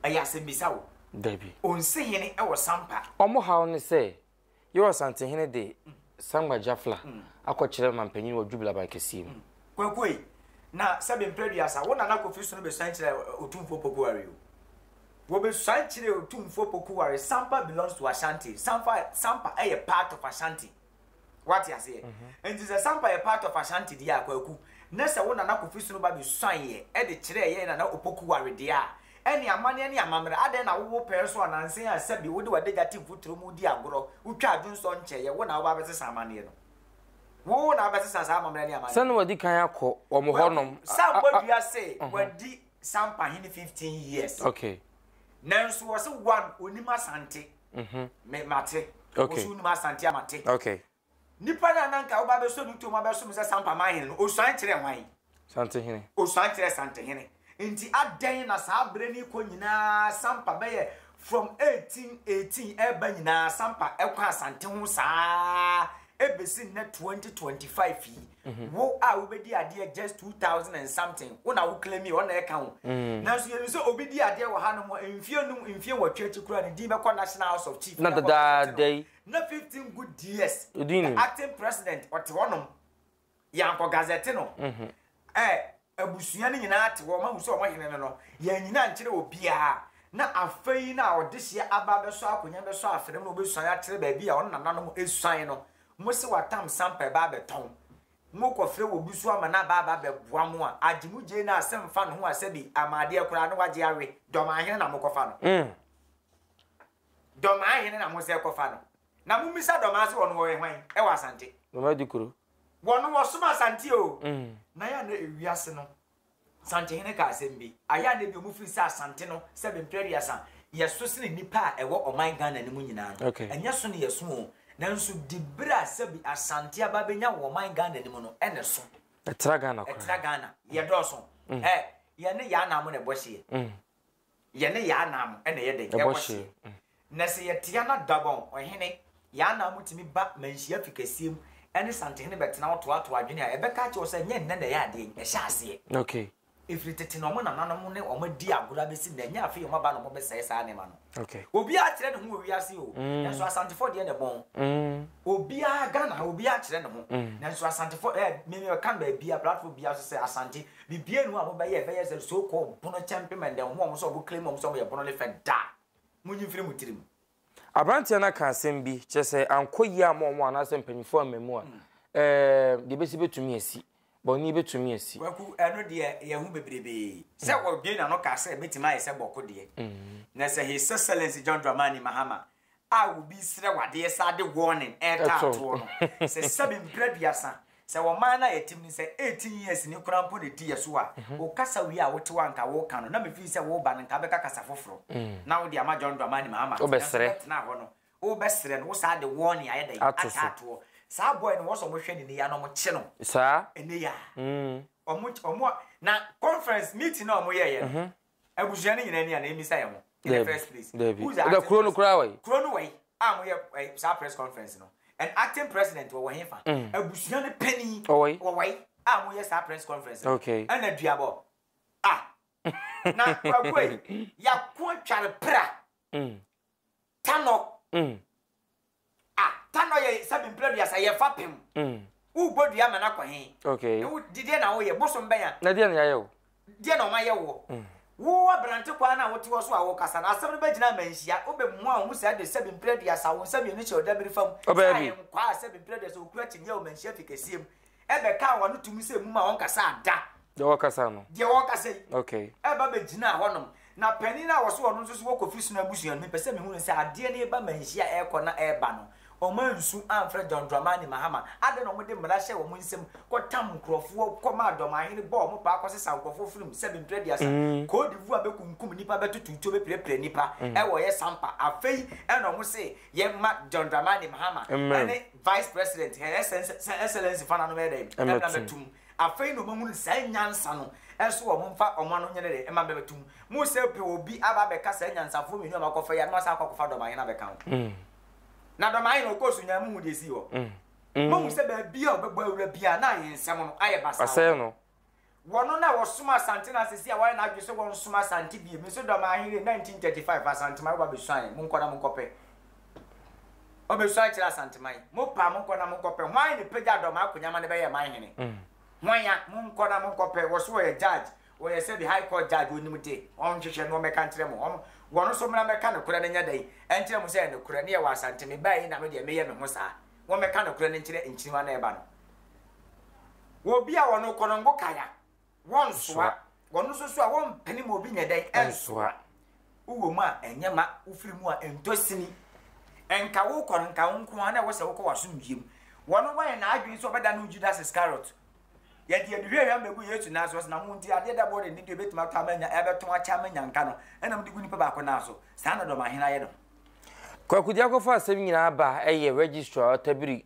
Ɛyɛ asɛmmisa o. Dabi. Ɔnsi hene wɔ Sampa. Ɔmo haw ne sɛ Yɛwɔ Asantehene de Sangba Jafla akɔkyerɛ mampanyin wɔ Jubila Aban Kɛseɛ mu. Kwakuei, na sɛbe mprɛ aduasa, wo Nana Kofi Sono bɛsuan kyerɛɛ Otumfoɔ Pokuware o. Wɔbɛsuan kyerɛɛ Otumfoɔ Pokuware, Sampa belongs to Ashanti, Sampa, Sampa yɛ part of Ashanti. Woate aseɛ? Nti sɛ Sampa yɛ part of Ashanti deɛ a, Kwaku, na sɛ wo Nana Kofi Sono ba bɛsuaneɛ de kyerɛɛ yɛn Nana Opokuware deɛ a, Ɛne amanneɛ ne amammerɛ. Adɛn na wowɔ pɛɛ so ɔnansa yi a sɛbi wode w'adagya te mfuturo mu redi agorɔ, wotwa adwonsɔ nkyɛeɛ, wo na woba abɛsesa amanneɛ no? Wo na wobɛsesa saa amammerɛ ne amanneɛ no? Sɛnea wɔadi kan akɔ wɔn hɔnom. Well, Sampɔ dua se wadi Sampa hene 15 years. Okay. Nanso wɔse one onim Asante. Mhm. Me mate. Okay. Wɔse onim Asante a mate. Okay. Nipa no a na anka woba abɛsɔ no toom abɛsom no sɛ Sampaman hene no, osuan kyerɛɛ hwan? Santehene. Osuan kyerɛɛ Santehene. Enti adɛn na saa bere no rekɔ nyinaa Sampa bɛyɛ from 1818 ɛreba nyinaa Sampa kɔ Asante ho saa bɛsi nnɛ 2025 yi? Mhm. Wo a wobɛdi adeɛ just 2000 and something, wo na wo claim yi, ɔna ɛka ho. Mm. Nanso yɛnim sɛ obi di adeɛ wɔ ha no mfie num, mfie nwɔtwe akyi koraa ne din bɛkɔ National House of Chief. Na dadaada yi. Na fifteen good years. Odi ni. Acting president ɔte hɔ nom. Yankɔ gazette no. Mhm. Ɛ abusua no nyinaa te hɔ ɔmo ahu sɛ ɔmo hene no no yɛn nyinaa nkyerɛ obiara na afei na ɔdehyeɛ aba abɛsɔ akonnwa bɛsɔ afrɛm na ɔbɛsuan akyerɛ baabi a ɔno nananom esuan no mo se watam sampa ɛba abɛtɔn mo kɔfrɛ wɔ bi so ama no aba aba bɛboa mo a agye mo gyei na asɛm fa no ho a sɛbi amaadeɛ koraa na wagye awe dɔm ahene na mokɔfa no. Mm. Dɔm ahene na mo sɛ kɔfa no. Na mo misa dɔm ase wɔn wɔ hwan ɛwɔ asante. Dɔm adi kuro. Wɔn wɔ som asante oo. Na yɛ na ewiase no santehene ka asɛm bi ayɛ a na ebi wɔn firi sɛ asante no sɛ bɛ mpere aduasa yɛ so sene nipa a ɛwɔ ɔman Ghana no mu nyinaa no ɛnyɛ so na yɛ so oo nanso di bere a sɛbi asante aba bɛ nya wɔ ɔman Ghana no mu no ɛna ɛso ɛtra Ghana koraa ɛtra Ghana yɛ dɔɔso ɛ yɛ ne yɛ ana mo na ɛbɔ hyeɛ. Yɛne yɛn anan mu na ɛyɛ dɛn? Ɛbɔ hyeɛ. Na sɛ yɛtea no a, Dagon, ɔhene, yɛn anan mu tumi ba manhyia fi kɛseɛ mu ne santehene bɛtena hɔ toatoa adwene a ɛbɛka akyerɛ wo sɛ ɛnyɛ nnɛ na ɛyɛ adeɛ yi, ɛhyɛ aseɛ. Okay. Ɛfiri tete na wɔn nananom ne wɔn adi agorɔ abɛsi nnɛ, ɛnyɛ afei wɔn aba na wɔbɛsɛe saa nneɛma no. Okay. Obiara kyerɛ ne ho wɔ wiase o, mm. nanso asantefoɔ deɛ na ɛbɔn. Mm. Obiara Ghana ha, obiara kyerɛ ne ho, mm. nanso asantefoɔ ɛɛ eh, mmemme ɛka baabi a platform biara so sɛ asante Bibia nu a ɔmo bɛyɛ bɛyɛ sɛ so called bono kyɛn pema ndɛ ɔmo a ɔmo sɛ ɔmo claim ɔmo sɛ ɔmo yɛ bono ne fɛ da munyi mfiri mo tirim. Abranteɛ no aka asɛm bi, kyerɛ sɛ ankɔ yie amma wɔn anaasɛ mpanyinfoɔ amma mu a, eeh, deɛ ɛbɛsi bɛtumi asi, bɔne bɛtumi asi. Kwaku, ɛno deɛ yɛhu bebrebee. Sɛ ɔbue n'ano ka sɛ ɛbɛtumi ayɛ sɛ bɔko deɛ, na sɛ His Excellency John Dramani Mahama a obi resrɛ wo adeɛ saa de warning retaa toɔ no, sɛ sɛbi mprɛ aduasa, sɛ ɔman no a yɛtem no sɛ eighteen years ni koraa mpo na ɛdi yɛ so a, wo kasa wie a wotew a nka woka no na me feel sɛ woreba no nka wobɛka kasa foforɔ na wode ama John Dramani Mahama nanso wobɛtenaa hɔ no wobɛsrɛ no wo saa de warning ayɛ dɛn ataa toɔ saa boy no wɔ sɛ wɔhwɛ no nneyɛ na wɔkye no nneyɛ a wɔn na conference meeting na wɔyɛeɛ no Abusua no nyinaa ni anaa emisa yɛn ho in the first place. Dabi. Who is the acting kuro no koraa wai? Kuro no wai a mo yɛ eh, saa press conference no and acting president wɔ wɔ he fa? Mm. Abusua no panyin wɔ wai a mo yɛ saa press conference no? Okay. Ɛna duabɔ ah na kwakuo yi yako tware pra. Mm. Tanɔ Ah tanɔ yɛ sɛbi mpira duasa yɛ fapem Wo bɔ dua ama no akɔ he Na wo di deɛ na wo yɛ bosom bɛn a Na deɛ na yayɛ wo Deɛ na ɔma yɛ woɔ Wo abrante kwan a wo te hɔ so a wo kasa no Asɛm no bɛ gyina ama nhyia Wo bɛ mua wo ho sɛ de sɛbi mpira duasa Wo nsa mienu hyɛ ɔda miri fam Sɛ ayɛ nkwaa sɛbi mpira duasa Okura kyineɛ wo ma nhyia fi kɛseɛ mu ɛbɛkaa wɔn ano tumi sɛ mum a ɔnkasaa da. Deɛ ɔkasa no. Deɛ ɔkasa yi. Okay. Ɛba bɛgyinaa hɔnom. Na panin a wɔso ɔno nso so wɔ Kofi Sono abusua no, mepɛ sɛ mehu no sɛ adeɛ no reba manhyia a ɛrekɔ na ɛreba no, wɔansu amfrɛ John Dramani Mahama. Adɛn na wɔde mmara hyɛɛ wɔn nsam kɔtam nkurɔfoɔ, kɔmaa dɔmahene bɔɔ wɔn paa kɔsesaa nkurɔfoɔ firim sɛbe mprɛ aduasa, Cote d'Ivoire bɛkunkum nnipa, bɛtoto tuo, bɛpirapira nnipa wɔ yɛ sampa. Afei ɛna wɔn se yɛmma John Dramani Mahama ne Vice President, Her Excellency Fana no bɛyɛ dɛn? Ɛmɛ bɛtum. Afei na wɔahunu saa nyansa no, ɛso wɔn mfa wɔn ano nyɛ dɛn ɛma bɛbɛtum. Mo sɛ pɛ obi aba abɛka saa nyansafoɔ mmienu a wɔakɔfa yi a, na wɔasan akɔ akɔfa dɔmahene abɛka ho. Mm. Na dɔmahene na ɔkɔɔ so nyaa mo hu deɛ esii hɔ. Mm. Mm. Mo hu sɛ baabi a ɔbɛbɔ awura biara na ayɛ nsɛm no ayɛ basaa. Ɔsɛe no. Wɔno na wɔsom Asante na sesei a wɔayɛ n'adwene sɛ wɔnsom Asante bio. Me nso dɔm ahenre 1935 Asanteman wo ba besuae, monkɔ na monkɔpɛ. Ɔbesuae kyerɛ Asanteman. Mopaa monkɔ na monkɔpɛ. Hwan ne pagya dɔm akonya ma no bɛyɛɛ man hene? Hwan a? Monkɔ na monkɔpɛ. Wɔ so ɔyɛ judge, ɔyɛ sɛbi high court judge ɔnim de, ɔnhwehwɛ na ɔmmɛka nkyerɛ mo. Ɔm, wɔno nso mmra mmɛka nokorɛ no nyɛ dɛn? Ɛnkyerɛ mo sɛ ɛyɛ nokorɛ, ne yɛwɔ Asante, mebaeɛ yi na me deɛ meyɛ me ho saa. Wɔmmɛka nokorɛ no nkyerɛ nkyiriwa na ɛba no. Wɔ obi a wɔno kɔ no ngo kae a, wɔnsoa. Wɔno nso so a, wɔmpene ma obi nyɛ dɛn? Ɛnsoa. Wowɔ mu a, ɛnyɛ ma. Wofiri mu a, ɛntɔ sini. Nka wokɔ no, nka wo nko ara na ɛwɔ sɛ wokɔ w'asomdwoeɛ mu. Wɔno wanyɛ n'adwene sɛ ɔbɛda ne ho Judas Iskariot. Yɛde aduhwamhwam bɛgu Yesu nan so, ɔse, Na mo nti, adeɛ da bɔɔ n'ani deɛ ɛbɛtumi atɔ ama anya, ɛbɛtɔn akyɛ ama anya nka no, ɛna mode gu nipa baako nan so. Saa na dɔmahene ayɛ ne ho. Kwaku de akɔfa asɛm nyinaa ba ɛyɛ registrar ɔtabiri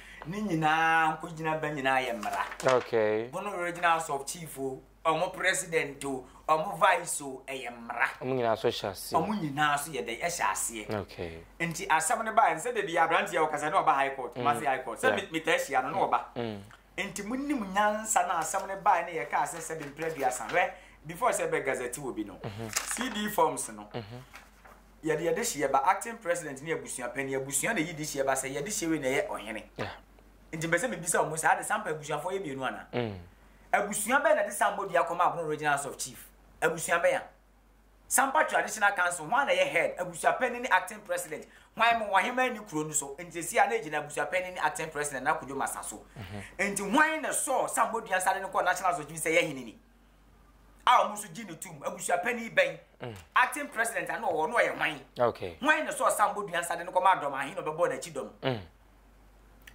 ne nyinaa nkogyina bɛ nyinaa yɛ mmara. Okay. Bo no regional sub chief o, ɔmo president o, ɔmo vice o, ɛyɛ mmara. Ɔmo nyinaa so hyɛ aseɛ. Ɔmo nyinaa so yɛ dɛ, ɛhyɛ aseɛ. Okay. Nti asɛm no baeɛ no sɛ dabi aberanteɛ ɔkasa na ɔba high court, Kumasi high court, sɛ me taa hyia no na ɔba. Nti mo nim nyansa na asɛm no baeɛ no yɛ kaa sɛ sɛbi mprɛ aduasa, hwɛ before sɛ bɛ gazette obi no, CD forms no. Yɛde yɛdehyeɛ ba, acting president ne abusua panin, abusua na ɛyi dehyeɛ ba sɛ yɛdehyeɛ wei na ɛyɛ ɔhene. Yeah. Nti mpɛ sɛ mebisa wɔn sɛ ade sampa abusuafoɔ yɛ mmienu anaa? Mm. Abusua bɛn na de sampa dua kɔma Abono Regional House of Chief? Abusua bɛn a? Sampa Traditional Council hwan na ɛyɛ head? Abusua panin ne acting president. Hwan mo ɔheman ni kuro no so? Nti esi a na egyina abusua panin ne acting president na kodwo masa so. Mm-hmm. Nti hwan na sɔɔ sampa dua nsa de no kɔɔ National House of Chief sɛ yɛ hene ni? a wɔn nso gye no tom abusuapanin bɛn mm. acting president ano ɔwɔ no ɔyɛ hwan hwan na sɛ ɔsan bɔ dua nsa de no kɔma adɔm ahe na ɔbɛbɔ n'akyi dɔm mm.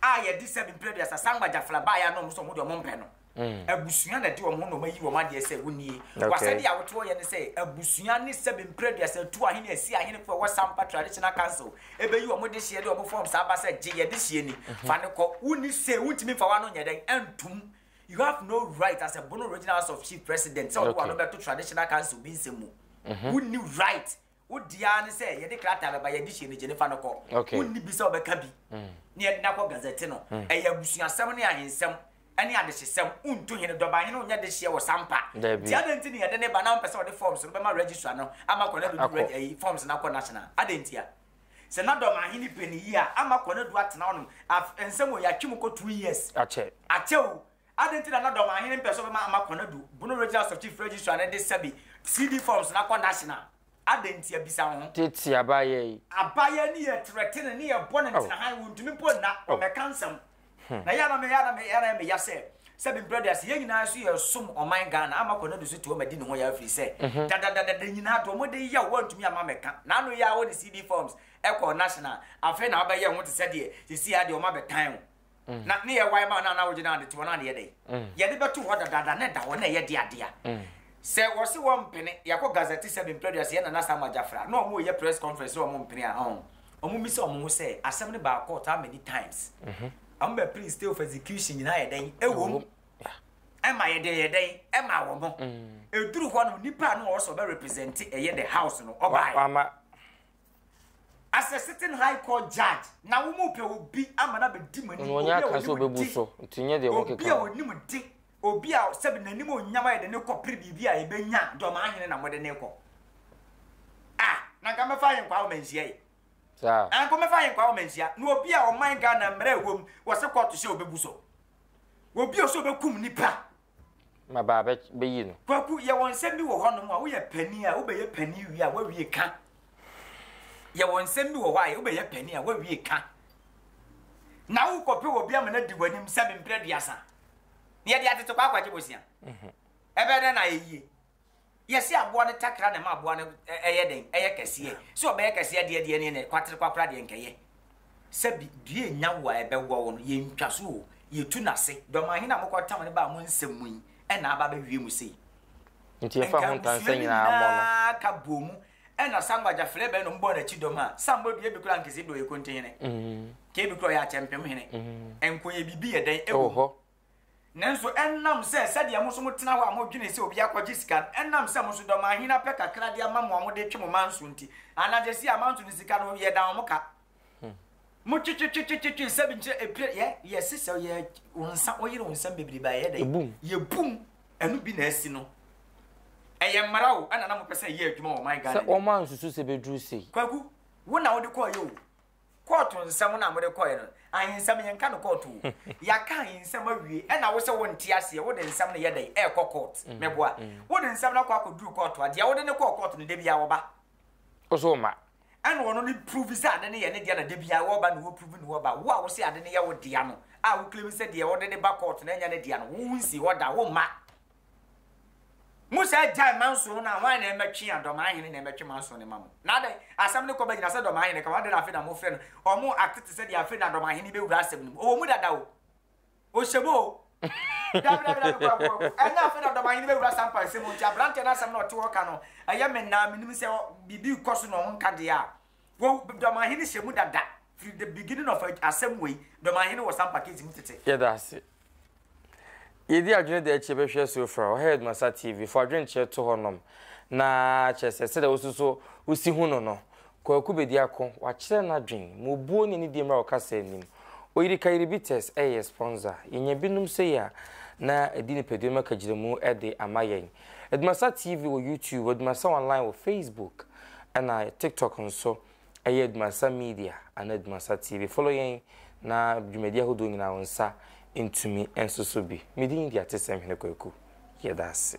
a yɛde sɛ mpere duasa san gbagyafla baeɛ ano ɔmo sɛ ɔmo de ɔmo mpɛ no mm. abusua na de wɔn ho na wɔn ayi wɔn adeɛ sɛ wonie wasɛde a wotoɔ yɛ ne sɛ abusua ne sɛ mpere duasa tu ahene asi ahene fo ɛwɔ sampa traditional council ebeyi wɔn de hyɛ de wɔn fɔm saa ba sɛ gye yɛde hyɛ ni mm-hmm. fa ne kɔ wonni se wontumi nfa wa no nyɛ dɛn ɛntum You have no right as a Bono Regional House of Chief President sɛ ɔde w'ano bɛto Traditional Council bi nsɛm mu. Mhm. Wonni right. Wo deɛ ara ne sɛ yɛde krataa bɛba, yɛde hyɛ no gye no fa no kɔ. Okay. Wonni bi sɛ wobɛka bi Mm. na yɛde no akɔ Gazette no. Mm. Ɛyɛ abusuasɛm ne ahensɛm ne adehyesɛm. Wontu hene, dɔbahene nyɛ dehyeɛ wɔ Sampa. Dabi. Nti adɛn nti na yɛde no ba na wompɛ sɛ wode forms no bɛma Registrar no ama kɔ na ɛbɛdu Akɔ. Reg ayi, forms no akɔ National? Adɛn ntia? Sɛ na dɔm ahene pɛ ne yie a, ama kɔ na du atena hɔ nom. Af, nsɛm o, yɛatwe mu kɔ two years. Akyɛ. Akyɛ o. Adɛn nti na na dɔm ahene mpɛ sɛ ɔbɛma ama kɔ na du, bono Regional House of Chief Registrar no de sɛbe CD forms no akɔ National? Adɛn ntia? Bisa wo ho. Tete abaayaa yi. Abaayaa no yɛ threatening, ne yɛbɔ no ntena han, wontumi mpo nna, ɔmmɛka nsɛm. Hmm. Na yɛ na me yɛ na me yɛ na me ya sɛ sɛ bi mbrɛ deɛ yɛn nyinaa so yɛ som ɔman Ghana ama kɔ ne do so tuo ma di ne ho yɛ afiri sɛ mhm. dadadada nyinaa do ɔmo de yɛ wɔn ntumi ama mɛka na ano yɛ a wɔde CD forms ɛkɔ national afei na abɛyɛ ho te sɛ deɛ sisi adeɛ ɔmo abɛtan o mhm. na ne yɛ wae ma na na wogye na de te wɔn adeɛ dɛ mhm. yɛde bɛto hɔ dadada ne da hɔ na ɛyɛ deadea sɛ wɔsi wɔn mpene yɛkɔ gazette sɛ bi mprɛ deɛ sɛ yɛ nana sama gyafra na ɔmo yɛ press conference na ɔmo mpene a ɔn Wɔbisa wɔn ho sɛ, Asɛm no baa court how many times? Wɔbɛpere stay of execution nyinaa yɛ dɛn? Ɛwom, ɛma yɛ den yɛ dɛn? Ɛma wɔn. Ɛduru hɔ no, nipa a na ɔwɔ sɛ ɔbɛ represent ɛyɛ the house no, ɔbaeɛ. As a sitting high court judge, na wɔn pɛ obi ama no abɛdi mo anim, obi a wɔnim de, obi a wɔnim de. Obi a sɛbi n'animuonyam ayɛ den kɔpere biribi a yɛbɛnya a, deɛ ɔmaa hene na mode no rekɔ? Ah, na nka mɛfa Ahenkwaa Ɔmansia yi. Saa. Ah, nka mɛfa Ahenkwaa Ɔmansia. Na obi a ɔman Ghana mmara ɛwɔ mu, wɔse kɔɔto hyɛ ɔbɛbu so. Obi a ɔse ɔbɛkum nipa. Ma baa bɛ, bɛyi no. Kwaku, yɛwɔ nsɛm bi wɔ hɔnom a, woyɛ panin a, wobɛyɛ panin wie a, woawie ka. Yɛwɔ nsɛm bi wɔ hɔ a, wobɛyɛ panin a, woawie ka. Na wokɔpɛ obi ama no adi w'anim sɛ memprɛ aduasa. na yɛde atete kwaakwa agye bosea. Mhm. Ɛbɛyɛ dɛn na ayɛ yie? Yɛsi aboa no takra na ɛma aboa no ɛyɛ dɛn? Ɛyɛ kɛseɛ. Sɛ ɔbɛyɛ kɛseɛ deɛ deɛ ne kwatere kwakora deɛ nkɛyɛ. Sɛbi dua enya wo a ɛbɛwɔ wo no, yɛntwa so o, yɛtu n'ase. Dɔmaa hene a mokɔ tam no baa mo nsɛm mu yi ɛna aba abɛwie mu sei. Nti yɛfa ho ntansa nyinaa mmɔ no. Nka abusua no nyinaa ka bɔ mu Ɛna sa ngba gya flɛ bɛ nom bɔɔ n'akyi dɔm a, sa mbɔ dua bi kora nkese bi ɔyɛ konte hene, kee bi kora ɔyɛ akyɛmpem hene, nko yɛ biribi yɛ dɛn ɛwɔ hɔ. Nanso ɛnam sɛ sɛdeɛ mo nso mo tena hɔ a mo dwene sɛ obi akɔgye sika no, ɛnam sɛ mo nso dɔm ahene apɛ kakra de ama mo a mo de twe mo manso nti, anadze se amanso no sika no yɛ dan wɔn ka. Mo twi twi twi twi twi nsɛm nkyerɛ epire yɛ yɛ sisɛ yɛ wɔn nsa wɔn yere wɔn nsɛm bebree ba yɛ dɛ yɛ bum ɛnu bi na ɛsi no ɛyɛ mmara o ɛna na mo pɛ sɛ ɛyɛ adwuma wɔ man Ghana sɛ wɔn ansusu sɛ beduru sei. Kwaku wo na wode kɔɔ yɛ o kɔɔto nsɛm na mode kɔɔ yɛ no ahensɛm yɛn ka no kɔɔto o yɛaka ahensɛm awie ɛna wo sɛ wo nte aseɛ wode nsɛm no yɛ dɛ ɛɛkɔ kɔɔt mɛboa wode nsɛm no akɔ akɔduru kɔɔto a deɛ wode ne kɔɔ kɔɔto no da biara wɔba Wo so ma. Ɛna ɔno no prove sɛ ade no yɛ ne dea na da biara wɔba na wɔ prove ne hɔ ba. Wo a wose ade no yɛ wo dea no a wo claim sɛ deɛ ɔde no ba court no ɛnyɛ ne dea no wo wo nsi hɔ da wo ma. Mo saa gyae manso no a hwan na ɛmɛtwe a dɔmaahene na ɛmɛtwe manso no ma mo. Na adɛn asɛm no kɔ bɛgyina sɛ dɔmaahene ka ho adɛn na afei na mofrɛ no ɔmo act te sɛ deɛ afei na dɔmaahene bɛwura asɛm no mu. Ɔwɔ mu dada o. Osebo o. Dabi dabi dabi kɔ kɔ kɔ. Ɛnyɛ afei na ɔdɔmanhene bɛwura sampa nsɛm mu nti aberanteɛ no asɛm na ɔte hɔ ka no ɛyɛ me naa menim sɛ biribi rekɔ so na ɔho nka deɛ a wo dɔmanhene hyɛ mu dada firi the beginning of asɛm wei dɔmanhene wɔ sampa case mu tete. Yɛda ase. Yɛdi adwene da akyi yɛbɛhwɛ so fra ɔhɛ Headmaster TV fo adwenkyerɛ to hɔ nom na kyerɛ sɛ sɛdeɛ wososo wosi hu no no Kwaku Bediako, wakyerɛ n'adwen, ma obuo ne anidie mmra ɔkasa anim. Oyiri Kayiribites ɛyɛ yɛ sponsor. Yɛnya binom sei a, na adi nipadua mu akagyinamu de ama yɛn. Adumasa TV wɔ YouTube, Adumasa Online wɔ Facebook, ɛna TikTok nso ɛyɛ Adumasa Media anaa Adumasa TV. Follow yɛn na dwumadi ahodoɔ nyinaa wo nsa ntumi nsoso bi. Me din de Atesɛm Hene Kwaku. Yɛda ase.